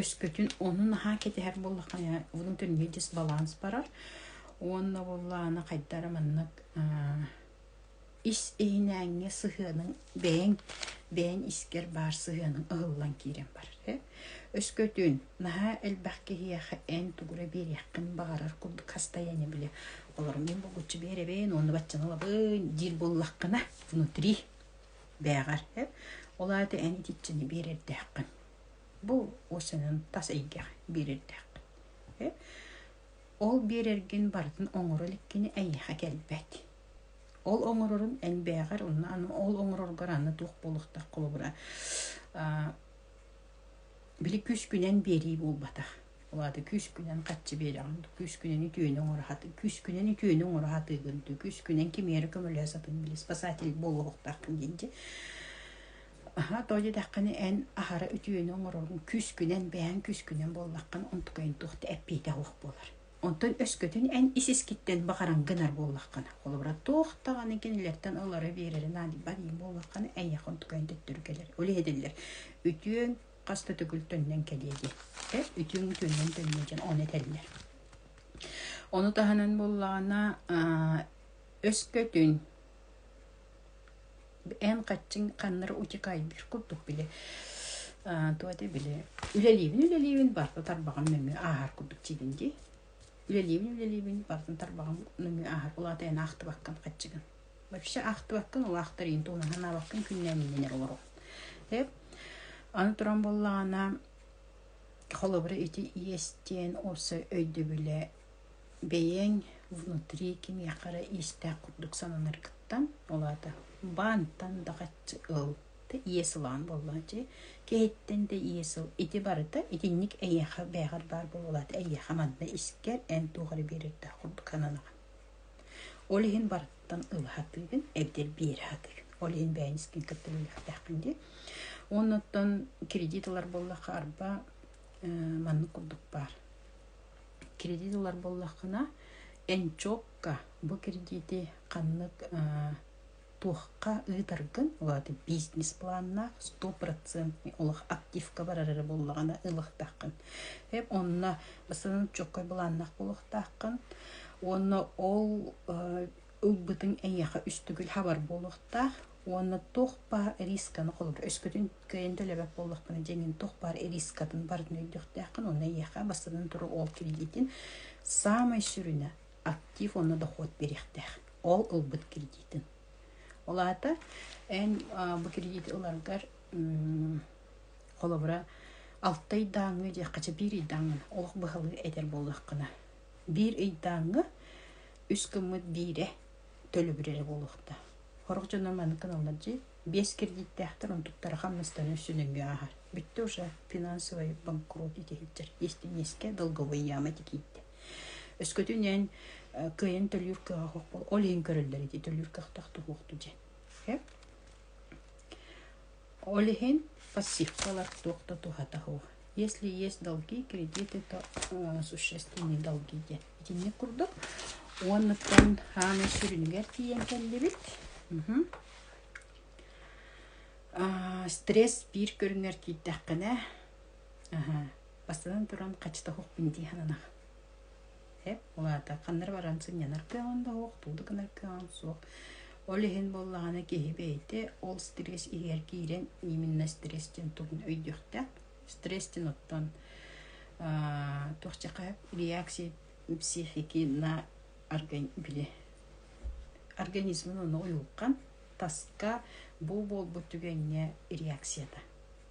өскөтүн ону наһаа кэтэһэр буоллаххына булун төннүгэ дьис баланс барар уонна буоллаана хайдара маннык ис иһинээҥҥэ сыһыаның бэйэҥ бэйэҥ искэр баар сыһыаның ыһыллан киирэн барар Өскөтүн, наһаа элбэх киһиэхэ эн тугура биэриэххин баҕарар курдук хастайааны били олорон мин булгуччу биэрэбин уонна баччаны ылабын диир буоллаххына, внутри бээҕэр ээ. Ол аата эн итиччэни биэрэрдээххин. Бу осенын тас эйгэҕэ биэрэрдээххин ээ. Ол биэрэргин барытын оҥоро иликкини эйиэхэ кэлбэт. Ол оҥорорун эн бээҕэр уонна аны ол оҥороргор аны туох буолуохтаах холобура аа Били күүскүнэн биэрии буолбатах. Ол аата күүскүнэн хаччы биэрэҕин дуу, күүскүнэн үтүөнү оҥоро сатыы, күүскүнэн үтүөнү оҥоро сатыыгын дуу, күүскүнэн кимиэрэ эрэ көмөлөһө сатыын били спасатель буолуохтааххын диэн дии. Аһаа тоҕо диэтэххинэ эн аһара үтүөнү оҥороргун күүскүнэн, бэйэҥ күүскүнэн буоллаххын онтукайын туох да эппиэтэ суох буолар. Онтон өскөтүн эн ис-искиттэн баҕаран гынар буоллаххына, холобура, туох даҕаны кинилэртэн ылары биэрэри наадыйбат эбии буоллаххына, эйиэхэ онтукайын төттөрү кэлэр. Ол иһитиллэр. Үтүөҥ хас да төгүл төннөн кэлиэ дии. Эр үтүөҥ үтүөннэн төннүө диэн ону этэллэр. Ону таһынан буоллаҕына, өскөтүн эн хаччыҥ ханнары утекайдыыр курдук били туох этэ били үлэлиибин үлэлиибин барыта тарбаҕым нөҥүө ааһар курдук диибин дии үлэлиибин үлэлиибин барытын тарбаҕым нөҥүө ааһар ол аата эн аахтыбаккын хаччыгын вообще аахтыбаккын ол аахтарыйын туһунан санаабаккын күннээминэн эрэ олорон эп аны туран буоллаҕына холобура ити иэстиэн осы өйдөбүлэ бэйэҥ внутри киниэхэ эрэ иистээх курдук сананаргыттан ол аата баантан дакаччы ыл да иэс ылаан буоллааччы киһиттэн да иэс ыл ити барыта итинник эйиэхэ бээҕэр баар буолуолаата эйиэхэ манна искэр эн туох эрэ биэриэхтээх курдук сананаҕын ол иһин барыттан ыл сатыыгын эбэтэр биэрэ сатыыгын ол иһин бэйэҥ искин кытта үлэлэхтээххин дии оннуттан кредит ылар буоллахха арба маннык курдук баар кредит ылар буоллаххына энчокка бу кредити ханнык туохха ыытаргын улаата бизнес планнаах стопроцентный олох активка барар эрэ буоллаҕына ылыахтааххын эп онно бастан энчоккой былааннаах буолуохтааххын уонна ол ылбытыҥ эйиэхэ үстүгүл хабар буолуохтаах уонна туох баар рисканы холобур өскөтүн кыайан төлөбөт буоллахпына дьиҥин туох баар рискатын барын өйдüөхтээххин уонна эйиэхэ бастатан туруу ол кредитин саамай сүрүнэ актив уонна дохуот биэриэхтээх ол ылбыт кредитин ол аата эн бу кредит ыларгар холобура алтай дааҥы диэххэ биир ый дааҥыны олох быһалыы этэр буоллаххына Биир ыйдааҥҥа үс гыммыт биирэ төлөбүрэрэ буолуохтаах. Сорох дьоно маныкын алардьы биэс кредиттээхтэр, онтуктара хамнастарын үстүн өйгө ааһар. Бүттэ уже финансовый банкрот ити сылдьар. Истиниэскэ долговой яма ити киирдэ. Өскөтүнэн э, кыайан төлүүр кыаҕа суох бол ол иһин көрөллөр ити төлүүр кыахтаах туһуохту дьэ. Э? Ол иһин пассивкалар туох да туһата суох. Если есть долги, кредиты, то существенные долги диэн итинник курдук. Уонныттан аана сүрүнүгэр тиийэн кэллибит. Стресс биир көрүҥэр киирдэххинэ, бастатан туран, хачыта суохпун дии сананах. Эп, улаата. Ханнары баран сынньанар кыаҕын да суох, тугу да гынар кыаҕын суох. Ол иһин буоллаҕына киһи бэйэтэ ол стресс иһигэр киирэн именно стресс диэн тугун өйдүөхтээх. Стресс диэн оттон туохча хайа реакция психики на били организмын ону уйулҕан таска бу буолбут түгэҥҥэ реакцията.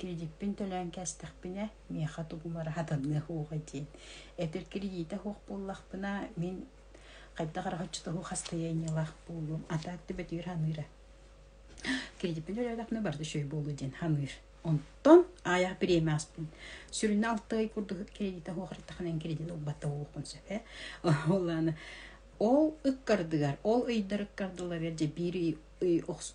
кредиппин төлөөн кээстэхпинэ миэхэ тугумар аһатыныах уоҕа диэн эдэр кредита суох буоллахпына мин хайдах эрэ оччотооҕу хастыйаанньалаах буолуом атаатты бөтүүр ханыыра кредиппин төлөөтөхпүнэ барыта үчүгэй буолуо диэн ханыыр онтон аайах бириэмэ ааспын сүрүнэ алты ый курдук кредита суох ыртаханан кредит ылбата буолуохпун сөпө ол аана ол ыккардыгар ол ыйдар ыккардыларыгар дьэ биир ый охс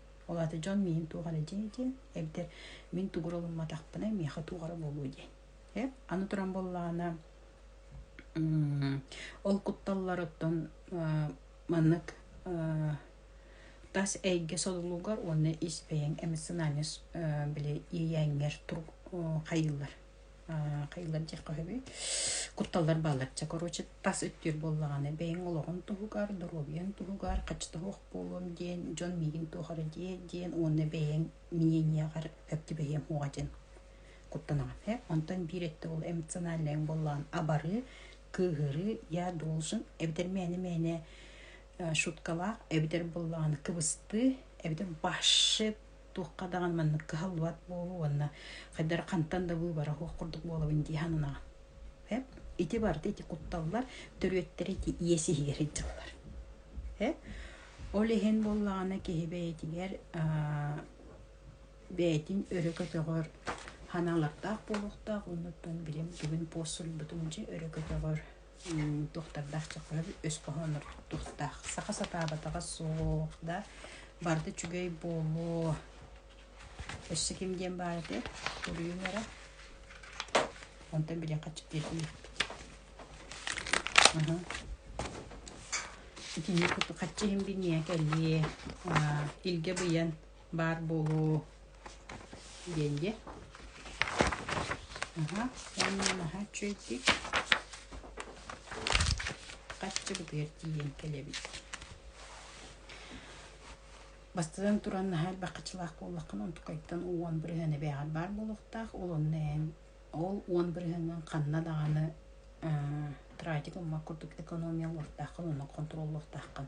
Ол аата дьон миин туох эрэ дии диэн, эбэтэр мин тугура ылымматахпына миэхэ туох эрэ буолуо диэн. Э? Аны туран буоллаҕына ол кутталларыттан маннык тас эйгэ содулугар уонна ис бэйэҥ эмит санааны били иэйээҥҥэр хайыыллар. Хайалар дьиэххэ үһүбүй? Кутталлар баалларча, короче, тас өттүгэр буоллаҕына бэйэҥ олоҕун туһугар, доруобуйаҥ туһугар хачтаһыах буолуом диэн, дьон миигин туох эрэ диэт диэн уонна бэйэҥ миэньиэҕэр бэртибэйиэм уоҕа диэн куттанаҕын. Ээ, онтон биир өттө ол эмоциональнайыҥ буоллаҕын абары, кыыһырыы я должен эбэтэр мээнэ-мээнэ шуткалаах эбэтэр буоллаҕына кыбыстыы эбэтэр баши туохха даҕаны маннык кыһаллыбат буолуу уонна хайдары хантан да быыбара суох курдук буолабын дии сананаҕын. Эп ити барыта ити кутталлар төрүөттэрэ ити иэс иһигэр ыддьыллар. Э? Ол иһин буоллаҕына киһи бэйэтигэр бэйэтин өрө көтөҕөр ханаллардаах буолуохтаах оннуттан билим бүгүн пуос суруйбутум дьэ өрө көтөҕөр Туохтардаах чаххыһан өс хоһоонор туохтаах. Саха сатаабатаҕа суох да барыта үчүгэй буолуо. Өссө ким диэн баар этэ суруйуҥ эрэ. Онтон билиэххэ этиэхпит. Итини кытта хаччы иһин биниэ кэлиэ. Илгэ быйан баар буолуо диэн дьэ аһа уонна наһаа үчүгэйдик хаччыбытыгар тиийэн кэлэбит бастатан туран наһаа элбэххачылаах буоллаххына онтукайтан уон бырыһыана бээҕэр баар буолуохтаах ол онно эн ол уон бырыһыанан ханна даҕаны тратик уммак курдук экономия олортааххын онно контроллуохтааххын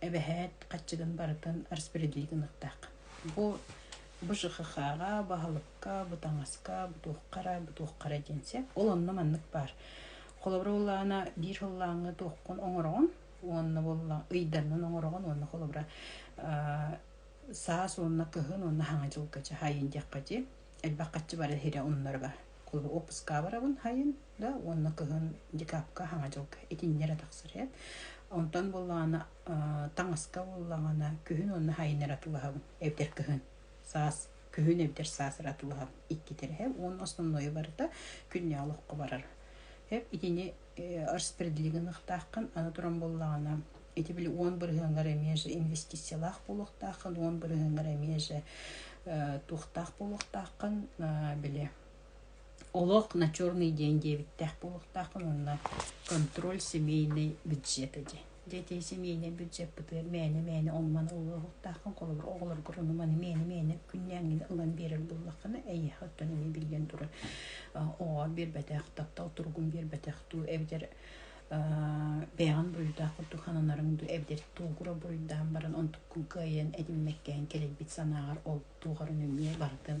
эбэһээт хаччыгын барытын распределить гынахтаах. Бу бу ЖХХ-га, баһылыкка, бутаҥаска, бутуоххара, бутуоххара диэнсе. Ол онно маннык баар. Холобура боллаана биир хыллааҥҥы туоххун оҥороҕун уонна болла ыйданнын оҥороҕун уонна холобура саас уонна кыһын уонна хаҥа дьылга дьаһайын диэххэ дии элбэх хаччы бары сирэ оннорго кулуһу оппускаабырабын хайын да уонна кыһын декапка хаҥа дьылга итиннэрэ тахсары онтон буллаҕына таҥаска буллаҕына күһүн уонна хайыннара тулаһабын эбэтэр кыһын саас күһүн эбэтэр саасыра тулаһабын икки тирэһэ уон основное барыта күннээх олоххо барар итини распределига ныхтааххын аны туран буоллаҕына ити били уон бырыһыаҥҥар эмиэ же инвестициялаах буолуохтааххын уон бырыһыаҥҥар эмиэ же туохтаах буолуохтааххын били олох на черный день диэбиттээх буолуохтааххын уонна контроль семейный бюджета дии Дьэ итии симиинэ бюджеппытыгар мээнэ-мээнэ оннуман ылыаһыктааххын холобур оҕолоргор ону маны мээнэ-мээнэ күннээҥҥин ылан биэрэр буоллаххына эйиэхэттэн эмиэ биллэн турар оҕоҕор биэрбэтэх таптал туругун биэрбэтэх дуу эбэтэр бэйэҕин буруйдаах курдук сананарыҥ дуу эбэтэр туугура буруйдаан баран онтуккун кыайан этиммэккээн кэлэрбит санааҕар ол туоҕар эмиэ барытын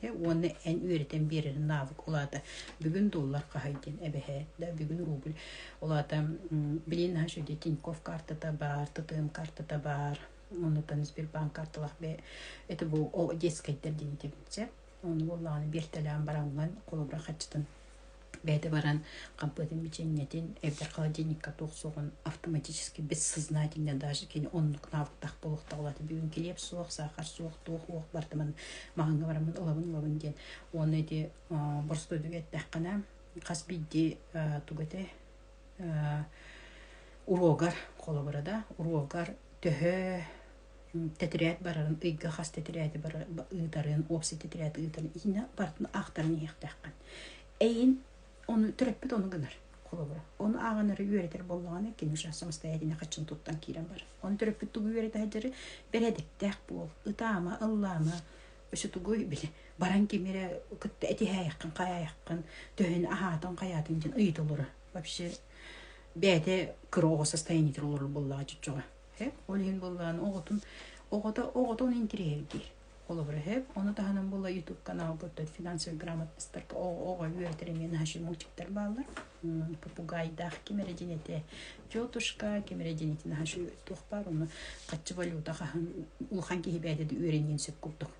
Дьэ, уонна эн үөрэтэн биэрэрин наавык. Ол аата бүгүн доллар хаһай диэн эбэһээт да бүгүн рубль. Ол аата билин наша де Тиньков картата баар, ТТМ картата баар. Оннуттан Сбербанк карталах бе это бу ол детскэйдэр диэн дебитсэ. Ону боллааны бертэлээн бараҥҥан холобура хаччытын бэйэтэ баран хампыытын мичиэнньэтин эбэтэр холодильникка туох суоҕун автоматически бессознательно даже кини оннук навыктаах буолуохтаахлаата бүгүн килиэп суох саахар суох туох уох бартымын маһаҥҥа бараммын ылабын ылабын диэн уонна ити боростуойдуга эттэххинэ хас биирдии тугата уруогар холобура да уруогар төһө тэтирээт барарын ыйга хас тэтирээти бары ыытарын уопсай тэтирээти ыытарын иһинэ барытын аахтаран иһиэхтээххин эйин ону төрөппүт ону гынар холобура ону ааҕынары үөрэтэр буоллаҕына кини сейчас самостоятельно хаччын туттан киирэн барар ону төрөппүт тугу үөрэтэ сылдьары бэрээдэктээх буол ытаама ыллаама өсө тугуй били баран ким эрэ кытта этиһээйэххин хайаайаххын төһүн аһаатын хайаатын дьин ыйытылыра вообще бэйэтэ кыроҕо состояние олорор буоллаҕа чочоҕо Сөп. Ол иһин буллаан оҕотун оҕото оҕотун интириэһиргиир. Холобура сөп. Ону таһынан була YouTube каналбыттан финансовый грамотностарга оҕо үөрэтэр эмиэ наһаа мультиктар бааллар. Попугайдаах ким эрэ дьинэтэ тетушка, ким эрэ дьинэтин наһаа туох баар, оны хаччы валюта хаһан улахан киһи бэйэтэ үөрэниэн сөп курдук.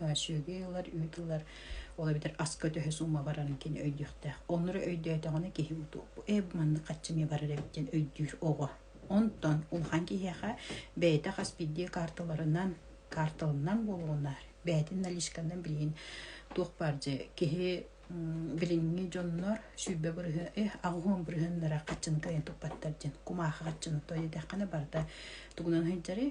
сүөгэй ылар, үүт ылар, ол эбэтэр аска төһө сумма барарын кини өйдүөхтээх. Оннура өйдөөтөҕүнэ киһи утуоппу «Ээ, бу маннык хаччы эмиэ барар эбит» диэн өйдүүр оҕо. Онтон улахан киһиэхэ бэйэтэ хас биирдии каарталарынан каарталынан буолуо наар бэйэтин наличканан билигин туох баар дьэ киһи билиҥҥи дьоннор сүүрбэ бырыһы эх аҕыһыҥ бырыһыннара хаччыны кыайан туппаттар диэн кумаахы хаччыны той диэтэххинэ барыта тугунан сылдьарый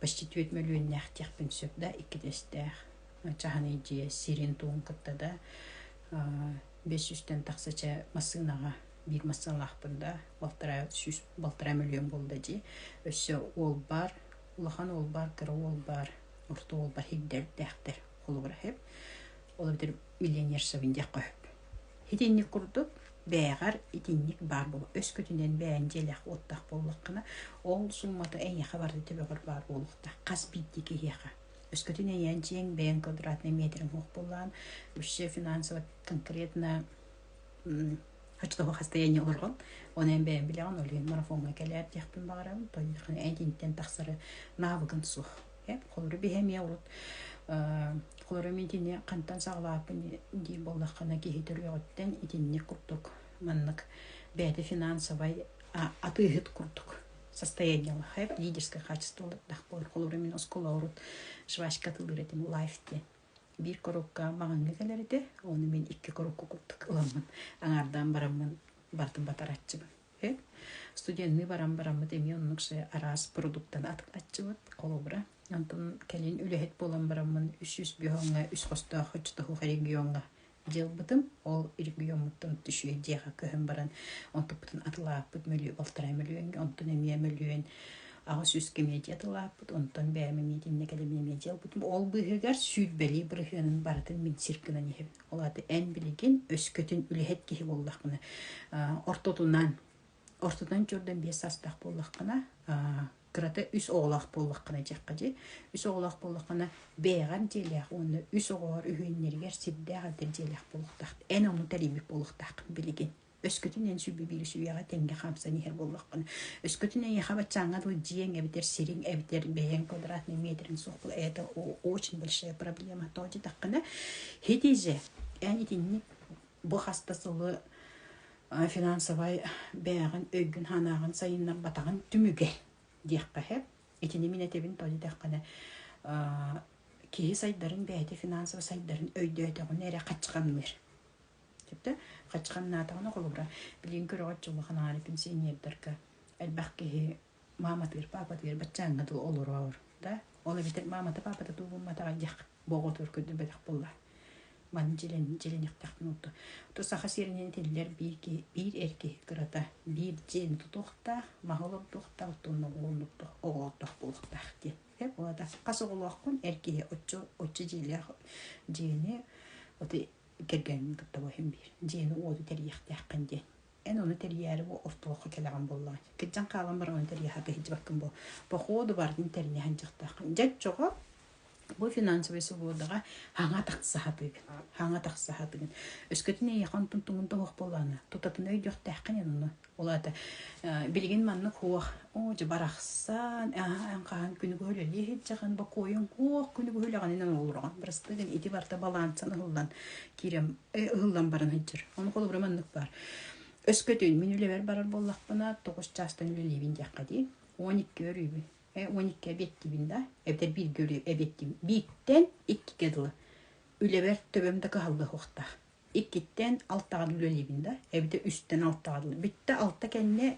почти түөрт мөлүйүөннээхтиэхпин сөп да иккитэстээх чаһыныйдьыйа сирин-туһун кытта да бэс сүүстэн тахса чэ массыынаҕа биир массыыналаахпын да балтараа сүүс балтараа мөлүйүөн буолла дии өссө уолбаар улахан уолбаар кыра уолбаар орто уолбар хирдэрдээхтэр холобура оһоп ол эбэтэр миллионершабын диэххэ сөп Итинник курдук бээҕэр итинник баар буолуо. Өскөтүнэн бэйэҥ дьиэлээх уоттаах буоллаххына, ол сууммата эйиэхэ барыта төбөҕөр баар буолуохтаах. Хас биирдии киһиэхэ. Өскөтүн эйээн дьиэҥ бэйэҥ квадратнай метрыҥ суох буоллаҕын, вообще финансово конкретно очтоҕо хастаяние олорҕун. Ону эн бэйэҥ билэҕин, олуйан марафоҥҥа кэлээр диэхпин баҕарабын. Тоойуоххун итинтэн тахсары наабыгын суох. Эп холору биһэмиэ урут холору мин итини хантан саҕалааппын дии буоллаххына киһи төрүөҕүттэн итинник курдук маннык бэйэтэ финансовай атыыһыт курдук состояниелаах эп лидерское хаачество олордох буор холору мин оскола урут жвачка атылыр этим лайф диэн биир корукка маҕаҥҥа кэлэр этэ оны мин икки корукку курдук ыламмын аҥаардаан бараммын барытын батараччыбын Студенныы баран бараммыт эмиэ оннук араас продуктаны атыначчыбыт холобура. Онтон кэлин үлэһит буолан бараммын үс сүүс бүһөҥҥө үс хостоох хочотоһуох региоҥҥа дьыалбытым. Ол региоммуттан түшүө диэхэ көһөн баран онтуппутун атылааппыт мөлүйү алтарай мөлүйүөҥҥэ онтун эмиэ мөлүйүөн аҕа сүүскэ медиа атылааппыт онтон бэйэм миитиннэ кэлимиэ медиа ылбытым. Ол быыһыгар сүүрбэлии бырыһыанын барытын мин сир гынан иһэбин. Ол аата эн билигин өскөтүн үлэһит киһи буоллаххына ортотунан ортотун чурдан биэс саастаах буоллаххына кырата үс оҕолоох буоллаххына дьахха дьи үс оҕолоох буоллаххына бэйэҕин дьиэлээх уонна үс оҕоҕор үһүөннэригэр сирдээх эдэр дьиэлээх буолуохтаах эн ому тэрийбит буолуохтааххын билигин өскөтүн эн сүрбү биир сүүйэҕэ тэҥҥэ хаамсан иһэр буоллахпына өскөтүн эйиэхэ баччааҥҥа дылы дьиэҥ эбэтэр сириҥ эбэтэр бэйэҥ квадратный метрин суох була это очень большая проблема то дитэххинэ һити же эн итинник бу хас да сылы финансовай бэйэҕин өйгүн санааҕын сайыннарбатаҕын түмүгэ диэххэ итини мин этэбин то дитэххинэ киһи сайдарын бэйэтэ финансово сайдарын өйдөөтөҕүнэ эрэ хаччаханныыр Сөптө хачханнаатаҕына холобура билигин көрөҕөт улахан аары пенсионердарга элбэх киһи мааматыыр паапатыыр баччааҥҥа дуу олороор да ол эбэтэр маамата паапата дуу булматаҕа диэх боҕотуур көрдөрбөтөх буолла маны дьилэн дьилэниэхтэхпин урду ту саха сиринэн тиллэр биир киһи биир эр киһи кырата биир дьиэн тутуохтаах маһы олордуохтаах уттунна оҕолордуох оҕолордоох буолуохтаах диэн э буолата хас оҕолооххун эр киһи оччо оччо дьиэлээх дьиэни вот кэргэҥҥин кытта буһан биир дьиэни-уоту тэрийиэхтээххин диэн эн ону тэрийээри бу остуолга кэлэҕин буоллаҕа кыччан хаалан баран ону тэрийэххэ иһдьибаккын буол походу бардын тэрийэһэн дьахтааххын дьэччоҕо бу финансовый субуодаҕа хаҥа тахсаһатыгын хаҥа тахсаһатыгын өскөтүн эйиэхэ онтун тугун тоһуох буоллаана тутатын өйдүөхтээххин эн ону Ол аата билигин маннык хуох оо дьэ барахсан эн хаһан күнү быһа үлэлии иһитдьэҕин бокуойуҥ уох күнү быһа үлэҕининэн олороҕун бырастыы гын ити барта балаансан ыһыллан киирэн ыһыллан баран иһдьэр ону холобура маннык баар өскөтүн мин үлэбэр барар буоллахпына тоҕус чаастан үлэлиибин диэххэ дии он икки өрүүбүн он икки эбиэттиибин да эбэтэр бииргэ эбиэттиим бииртэн иккигэ дылы үлэбэр төбөм да кыһалла суохтаах иккиттэн алтаҕар үлэлиибин да эбитэ үстэн алтаҕар бүттэ алта кэннэ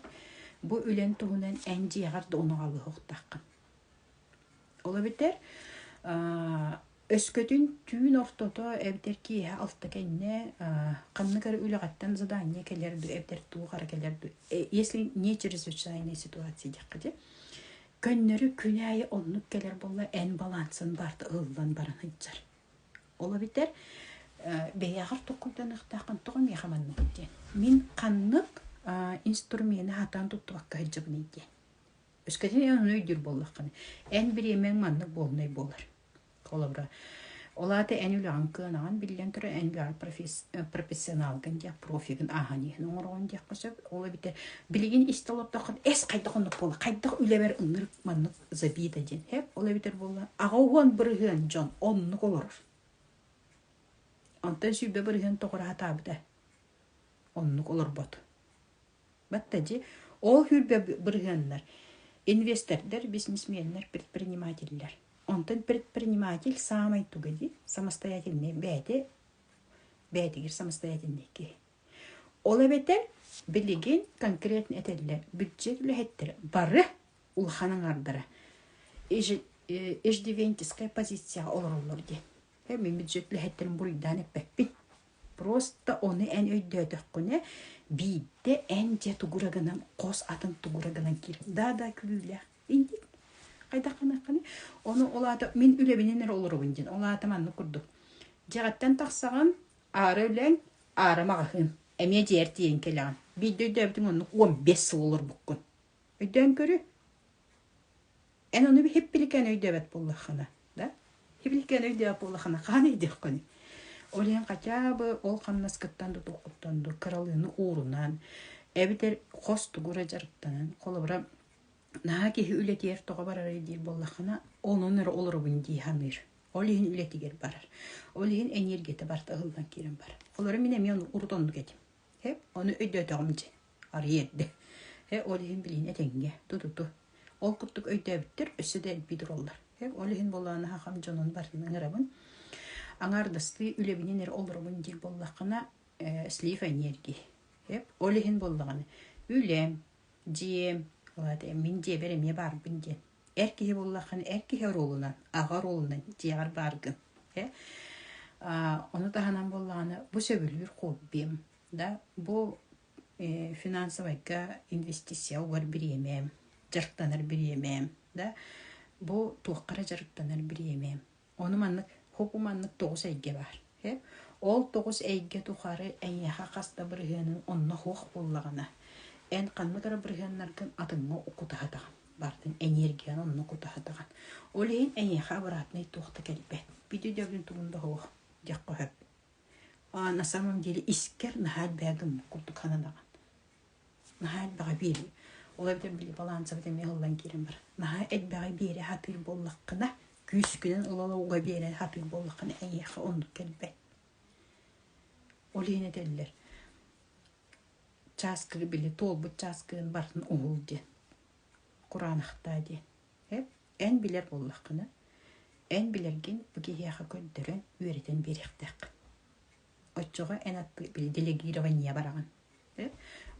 бу үлэн туһунан эн дьиэҕэр да унаҕалыһыахтаххын ол эбэтэр өскөтүн түүн ортото эбэтэр киэһэ алта кэннэ ханнык эрэ үлэҕиттэн задание кэлэр дуо эбэтэр туох эрэ кэлэр дуо если не чрезвычайная ситуация диэххэ дьэ көннөрү күн аайы оннук кэлэр буолла эн балансын барта ыллан баран сылдьар Ола битер бэйэҕэр токкуйданыахтааххын тоҕо миэхэ манныгын диэн. Мин ханнык инструмены хатаан туттубакка сылдьабыный диэн. Өскөтүн аны өйдүүр буоллаххына, эн бириэмэҥ маннык буолунай буолар. Холобура, ол аата эн үлэҕин кыанаҕын биллэн турар, эн үлэҕэр профессионалгын диэх, профигын ааһан иһин оҥороҕун диэххэ сөп. Ол эбитэ билигин истэ олордоххун эс хайдах оннук буолла, хайдах үлэбэр ынырык маннык забита диэн эп ол эбитэр буолла аҕа уһуон бырыһыан дьон оннук олорор онтон сүүрбэ бырыһыан тоҕура хатаабыта оннук олорбот батта дьи ол хүрбэ бырыһыаннар инвестордар бизнесменнэр предпринимателлэр онтон предприниматель саамай туга ди самостоятельный бээти бээтигир самостоятельный киһи ол эбэтэр билигин конкретно этэллэр бюджет үлэһиттэрэ бары улахан аҥаардара иждивенческая позицияҕа олороллор диэн. Миммит үлэһиттэрин буруйдаан эппэппин. Просто ону эн өйдөөтөххүнэ, биирдэ эн дьэ тугура гынан, хос атын тугура гынан киирэн, да-да күлүүлээх. Инди хайдах гыныаххыный? Ону ол аата мин үлэбинэн эрэ олоробун диэн. Ол аата маннык курдук. Дьэҕэттэн тахсаҕын, аара үлэҥ, аара маҕаһыын. Эмиэ дьиэр тиийэн кэлэҕин. Биирдэ өйдөөбүтүҥ оннук 15 сыл олорбуккун. Өйдөөн Эн ону хиппиликээн өйдөөбөт буоллаххына, да? Хиппиликээн өйдөөбөт буоллаххына, хаһан өйдүөххүний? Ол иһин хотя бы ол хамнаскыттан да туоххуттан да кыралыыны уурунан, эбэтэр хос тугура дьарыктанан, холобура, наһаа киһи үлэтигэр тоҕо барарый диир буоллаххына, онон эрэ олоробун дии саныыр. Ол иһин үлэтигэр барар. Ол иһин эниэргийэтэ барыта ылынан киирэн барар. Холобура, мин эмиэ ону урут оннук этим. Ону өйдөөтөҕүм дии. арыйэрдэ. Э, ол иһин билиин этэҥҥэ, тутуту. Ол курдук өйдөөбүттэр өссө да элбии тураллар. Э, ол иһин буолааны хахам дьонун барытын ыҥырабын. Аҥаардастыы үлэбинин эрэ олоробун диир буоллаххына, э, слив энергии. Э, ол иһин буоллаҕына, үлэм, дьиэм, вот, э, мин дьиэбэр эмиэ баарбын диэн. Эр киһи буоллаххына, эр киһи оруолунан, аҕа оруолунан дьиэҕэр бааргын. Э, а, ону таһынан буоллаҕына, бу сөбүлүүр хоббим, Да, бу э, финансовайга инвестиция угар бириэмэм, дьарыктанар бириэмэм, да, бу туоххара дьарыктанар бириэмэм. Ону маннык, хоку маннык тоҕус эйгэ баар. Э? Ол тоҕус эйгэ тухары эйиэхэ хас да бырыһыанын онно хуох буллаҕына, эн ханнык эрэ бырыһыаннаргын атыҥҥа укутаһатаҕын, бартын эниэргийаны онно кутаһатаҕын. Ол иһин эйиэхэ обратный туох да кэлбэт. Бити дөбүн тугун да хуох, дьахха сөп. на самом деле искэр наһаа элбэҕи гыммыт курдук сананаҕын наһаа элбэҕи биэри ол эбэтэр били балаансабыт эмиэ ыллан киирэн барар наһаа элбэҕи биэри сатыыр буоллаххына күүскүнэн ыла уга биэрэн сатыыр буоллаххына эйиэхэ оннук кэлбэт ол иһин этэллэр чааскы били туолбут чааскыгын бартын уһул диэн кураанахтаа диэн эп Эн билэр буоллаххына, эн билэргин бу киһиэхэ көрдөрөн, үөрэтэн биэриэхтээххин. Оччоҕо эн атты делегирование бараҕын.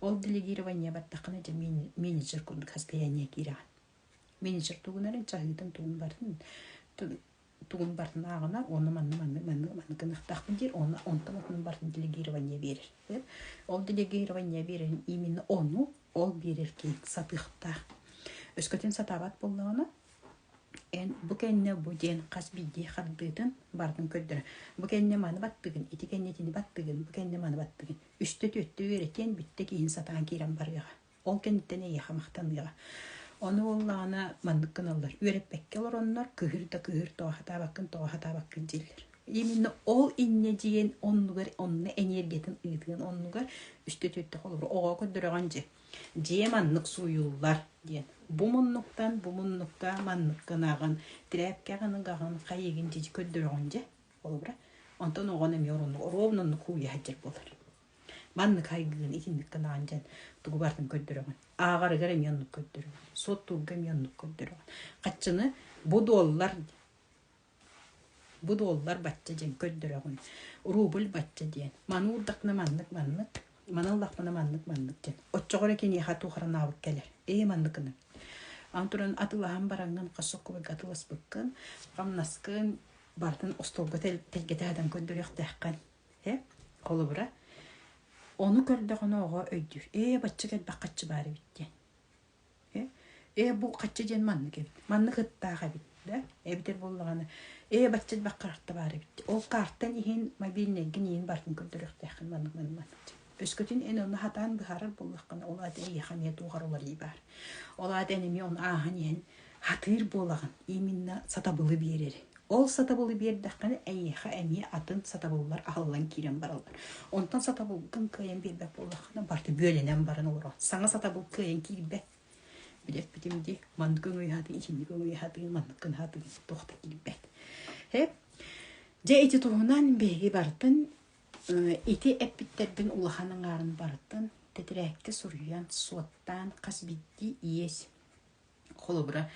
Ол делегирование баттаххына дьэ менеджер курдук состояние киирэҕин. Менеджер тугунарын чаһыытын тугун барын тугун бартынааҕына уонна манна манны манны манны гыныахтаахпын диир уонна онтон отунан бартын делегирование биэрэр. Ол делегирование биэрэрин именно ону ол биэрэр киин сатыахтаах. Өскөтүн сатаабат буоллаҕына эн бу кэнне бу диэн хас биирдии хардыытын бардын көрдөрө. Бу кэнне маны баттыгын, ити кэнне итини баттыгын, бу кэнне маны баттыгын. Үстэ түөттө үөрэтиэн бүттэ киһин сатаан киирэн барыаҕа. Ол кэнниттэн эйиэхэ махтаныаҕа. Ону буоллаҕына маннык гыналлар. Үөрэппэккэ олороннор кыһыр да кыһыр, тоҕо сатаабаккын тоҕо сатаабаккын дииллэр. Именно ол иннэ дьиэн оннугар онно эниэргиятын ыытыан оннугар үстэ түөртэ холобур оҕо көрдөрөҕүн дьэ дьиэ маннык сууйуллар диэн бу муннуктан бу муннукка маннык гынаҕын тряпкаҕын ыгаҕын хайыгын дьиди көрдөрөҕүн дьэ холобура онтон оҕону эмиэ ороннук оруобунаннык кууйа сылдьар буолар Маннык хайгыын итинник кылаан дьэн тугу бартын көрдөрөҕүн. Ааҕарыгар эмиэ оннук көрдөрөҕүн. Суоттуурга эмиэ оннук көрдөрөҕүн. Хаччыны бу дуоллар бу дуоллар бачча диэн көрдөрөҕүн. Рубль бачча диэн. Маны уурдахпына маннык маннык, маны ыллахпына маннык маннык диэн. Оччоҕо эрэ киниэхэ туохаранаабыт кэлэр. Ии манныкыны. Ан туран атылаһан бараҥҥын, хасыккыбыга атыласпыккын, хамнаскын бартын остуолга тэлгэтэ хатан көрдөрүөхтээххин. Э, холобура, ону көрдөхүнэ оҕо өйдүүр, ээ бачча кэлбэх хаччы баар эбит диэн. Э, ээ бу хачча диэн маннык эбит, маннык ыттаах эбит, да, эбитэр буоллаҕына, ээ бачча элбэх карта баар эбит. Ол картан иһин мобильнайгын иһин барын көрдөрүөхтээххин маннык маннык маннык. Өскөтүн эн ону хатаан быһаарар буоллаххына, ол аата эйиэхэ эмиэ туох уларыы баар. Ол аата эн эмиэ оны ааһан иһэн хатыыр буолаҕын, именно сатабылы биэрэр. Ол сатабылы биэрдэххинэ, эйиэхэ эмиэ атын сатабыллар аһыллан киирэн бараллар. Онтон сатабылгын кыайан биэрбэт буоллаххына, барыта бүөлэнэн баран олорор. Саҥа сатабыл кыайан киирбэт. Билэппитим дии, маннык өҥөйүһатыы, итинник өҥөйүһатыы, маннык гынаһатыы туох да киирбэт. Эп. Дьэ, ити туһунан биһиги барытын Ити эппиттэрбин улахан аҥаарын барытын тэтэрээккэ суруйан, суоттаан хас биирдии иэс. Холобура,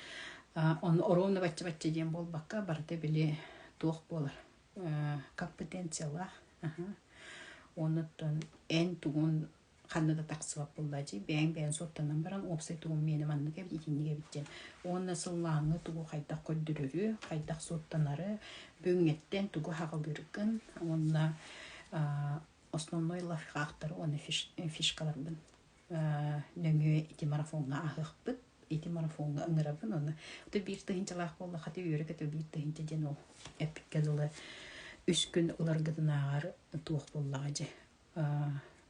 ону оруонна бачча-бачча диэн буолбакка, барыта били туох буолар компетенциялаах уонуттан эн тугун ханна да тахсыбат буоллаа дии бэйэҥ бэйэҥ суоттанан баран уопсай тугуҥ миэнэ маннык эбит итинник эбит диэн уонна сыллааҥҥы тугу хайдах көрдөрөрү хайдах суоттанары бүгүҥҥэттэн тугу хаҕылыыргын уонна основной лайфхактары уонна фишкаларбын нөҥүө ити марафоҥҥа аһыахпыт ити марафоҥҥа ыҥырабын уонна хата биир тыһыынчалаах буолла хата үөрэ-көтө биир тыһыынча диэн ол эпиккэ дылы үс күн уларгытынааҕар туох буоллаҕа дьэ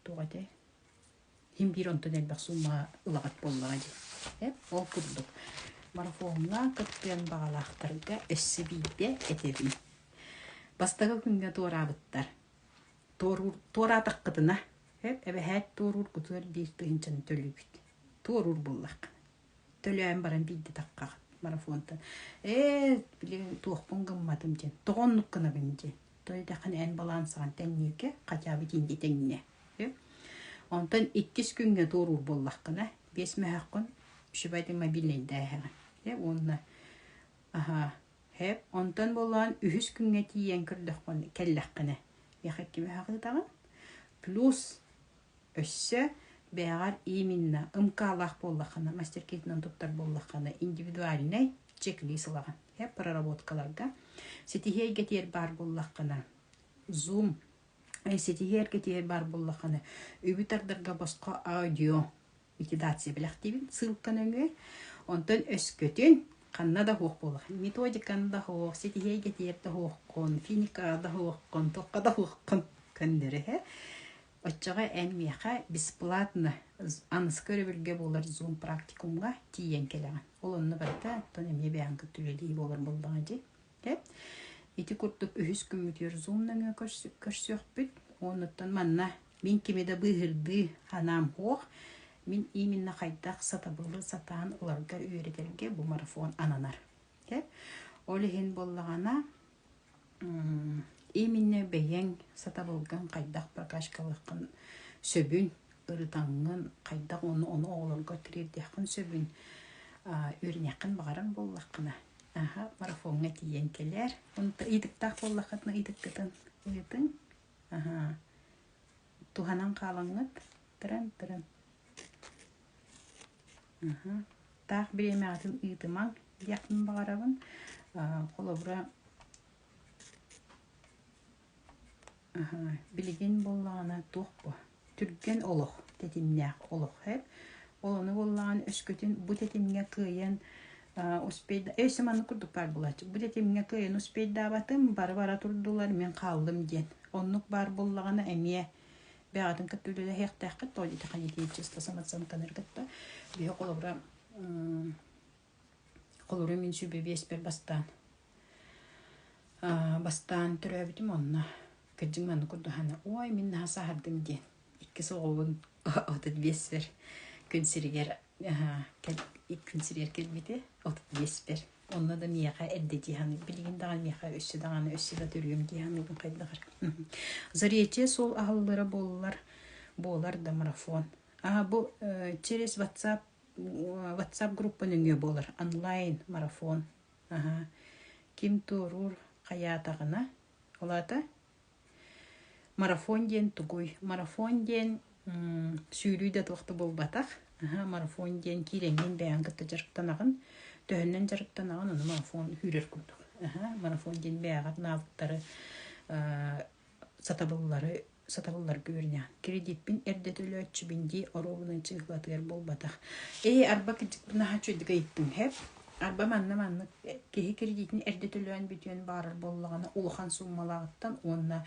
туох этэй иһин биир онтон элбэх суумаҕа ылаҕыт буоллаҕа дии эп ол курдук марафоҥҥа кыттыан баҕалаахтарга өссө биирдэ этэбин бастакы күҥҥэ туораабыттар туоруур туораатаххытына эп эбэһээт туоруур кутуэр биир тыһыынчаны төлүүгүт туоруур буоллаххына төлөөн баран биирдэтахха марафонтан ээ билигин туохпун гымматым диэн тоҕо оннук гынабын дии тойотахын эн балансаҕын тэҥниэкэ хотя бы тиинди тэҥниэ онтон иккис күҥҥэ туоруур буоллаххына биэс мөһөххүн үчүгэй мобильнайдааһаҕын уонна аха хэп онтон буоллаҕын үһүс күҥҥэ тиийэн көрдөххө кэллэххинэ яха икки мөһөх ыытаҕын плюс Өссө бэйэҕэр именно МК-лаах буоллаххына, мастер-кейтынан туттар буоллаххына, индивидуальнай чек-лист ылаҕын. Э проработкаларга ситиһиэйгэтиэр баар буоллаххына, Zoom ситиһиэргэтиэр баар буоллаххына, үбү тардарга босхо аудио витидация билэхтиибин ссылка нөҥүө. Онтон өскөтүн ханна да суох буолах, методиканы да суох, ситиһиэйгэтиэр да суоххун, финика да суоххун, туохха да суоххун көннөрүһэ Оччоҕо эн миэхэ бесплатно аныска өрөбүлгэ буолар Zoom практикумҥа тиийэн кэлэҕин. Ол онно барыта оттон эмиэ бэйэҕин кытта үлэлии буолар буоллаҕа дии. Дэ ити курдук үһүс күммүтүгэр Zoom нөҥүө көрсүөхпүт. Оннуттан манна мин кими да быыһырдыы анаам суох. Мин именно хайдах сатабылы сатаан ыларга үөрэтэргэ бу марафон ананар. Ол иһин буоллаҕына Именно бэйэҥ сатабылгын хайдах прокачкалыаххын сөбүн, ырытаҥҥын, хайдах ону ону оҕолорго тириэрдиэххин сөбүн үөрэниэххин баҕарар буоллаххына, аһа марафоҥҥа тиийэн кэлээр. Онтон ыйытыктаах буоллаххытына ыйытыккытын ыйытыҥ. Аһаа, туһанан хаалаҥҥыт, тыран тыран. таах бириэмэҕитин ыытымаҥ диэхпин баҕарабын холобура билигин буоллаҕына туох бу түргэн олох тэтимнээх олох эб ол ону буоллаҕына өскөтүн бу тэтимҥэ кыайан успейда өй маннык курдук баар буолааччы бу тэтимҥэ кыайан успейдаабатым бары бара турдулар мин хааллым диэн оннук баар буоллаҕына эмиэ бэҕэтин кытта үлэлэһиэхтээххит то ити ханитиичество самацантаныр кытта биһи холобура холору мин сүбэ биэспэр бастаан бастаан төрөөбүтүм онно кырдьык манна курдухана ой мин наһаа саһардым диэн иккис оҕобун отут биэспэр күн сиригэр күн сириэр кэлбити отут биэспэр Онно да миэхэ эрдэ дии саныыр. Билигин даҕаны миэхэ өссө даҕаны өссө да төрүөм дии саныыбын хайдаҕар. Заречье суол аһыллара буоллар буолар да марафон. А бу э, через WhatsApp WhatsApp группа нөҥүө буолар онлайн марафон. Аха. Ким туоруур хайаатаҕына. Ол аата Марафон диэн тугуй? Марафон диэн сүүрүү да туох да буолбатах. Марафон диэн киирэҥҥин бэйэҕин кытта дьарыктанаҕын, төһөннөн дьарыктанаҕын аны марафон үүрэр курдук. Марафон диэн бэйэҕэр наадаттары сатабыллары сатабылларга үөрэнэҕин. Кредиппин эрдэ төлөөччүбүн дии оруобуна чыыһылатыгар буолбатах. Ээ, арба кырдьык бу наһаа үчүгэйдик ыйыттыҥ, һэп? Арба манна маннык киһи кредитин эрдэ төлөөн бүтүөн баарар буоллаҕына улахан сууммалааҕыттан уонна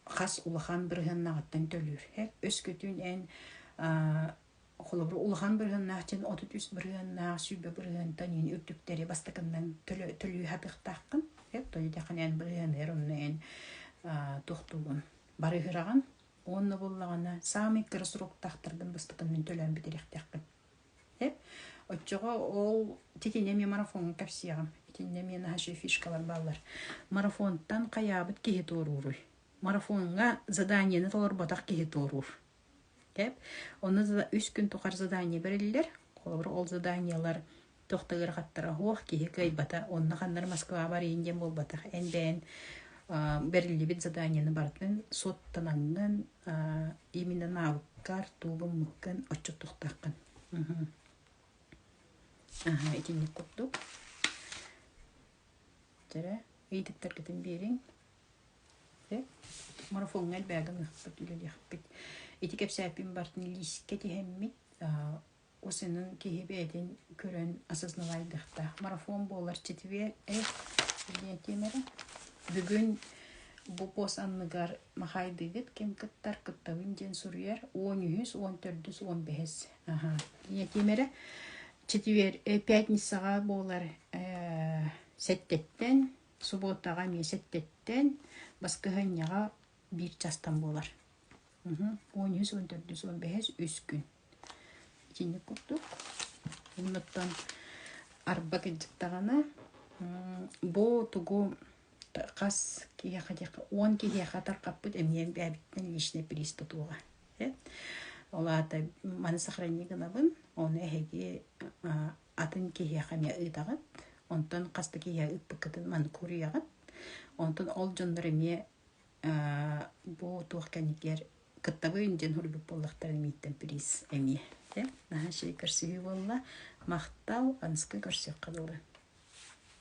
хас улахан бырыһыаннааҕыттан төлүүрһэр. Өскөтүн эн холобур улахан бырыһыаннаах дьин отут үс бырыһыаннаах сүүрбэ бырыһыантан иһин үрдүктэри бастакыннан төлүү хатыахтааххын. Той дэхэн эн бырыһыаныгар онно эн тохтуугун барыһыраҕын уонна буллаҕына саамай кыра сроктаахтаргын бастакыннан төлөөн бүтэриэхтээххин. Оччоҕо ол итиннэ эмиэ марафоҥҥа кэпсиэҕим. Итиннэ эмиэ наша фишкалар бааллар. Марафонтан хайаабыт киһи туорууруй? Марафоҥҥа заданиены толорботох киһи туоруур. Онно үс күн тухары задание бэриллэр. Холобура ол заданиелар тохто ыарахаттара оһуох киһи кыайбата онно ханнары Москваҕа барыйын диэн буолбатах эн бэйэн бэриллибит заданияны барытын соттанаҥҥын именно науккар туубуммуккын оччо тухтаххын аха итинник курдук жара иититтэргитин биэриҥ марафоҥҥа элбээгин ыхпыт үлэлиэхпит ити кэпсээппин бартын лиискэ тиһэммит Усинын киһи бэйэтин көрөн осознавайдыхта. Марафон буолар читиwe э диэн тиэмэрэ. Бүгүн бу пост анныгар Махайдыгыт ким кыттар кыттабын диэн суруйар 13, 14, 15. Аха. Диэн тиэмэрэ читиwe э пятницаҕа буолар э сэттэттэн, субуотаҕа эмиэ сэттэттэн, баскыһынньаҕа биир частан буолар. 13, 14, 15 үс күн. Итинник курдук. Уонуттан арба кырдьыктаҕына бу тугу хас киһиэхэ диэххэ уон киһиэхэ тархаппыт эмиэн бэйэбиттэн личный приспа туола ол аата маны сохрани гынабын оны эһиги атын киһиэхэ эмиэ ыытаҕыт онтон хас да киһиэхэ ыппыккытын маны куруйаҕыт онтон ол дьоннор эмиэ бу туох кэннигэр кыттабыйын диэн суруйбут буоллахтарын мииттэн приз эмиэ э наһаа чэй көрсүһүү буолла махтал аныскы көрсүөххэ дылы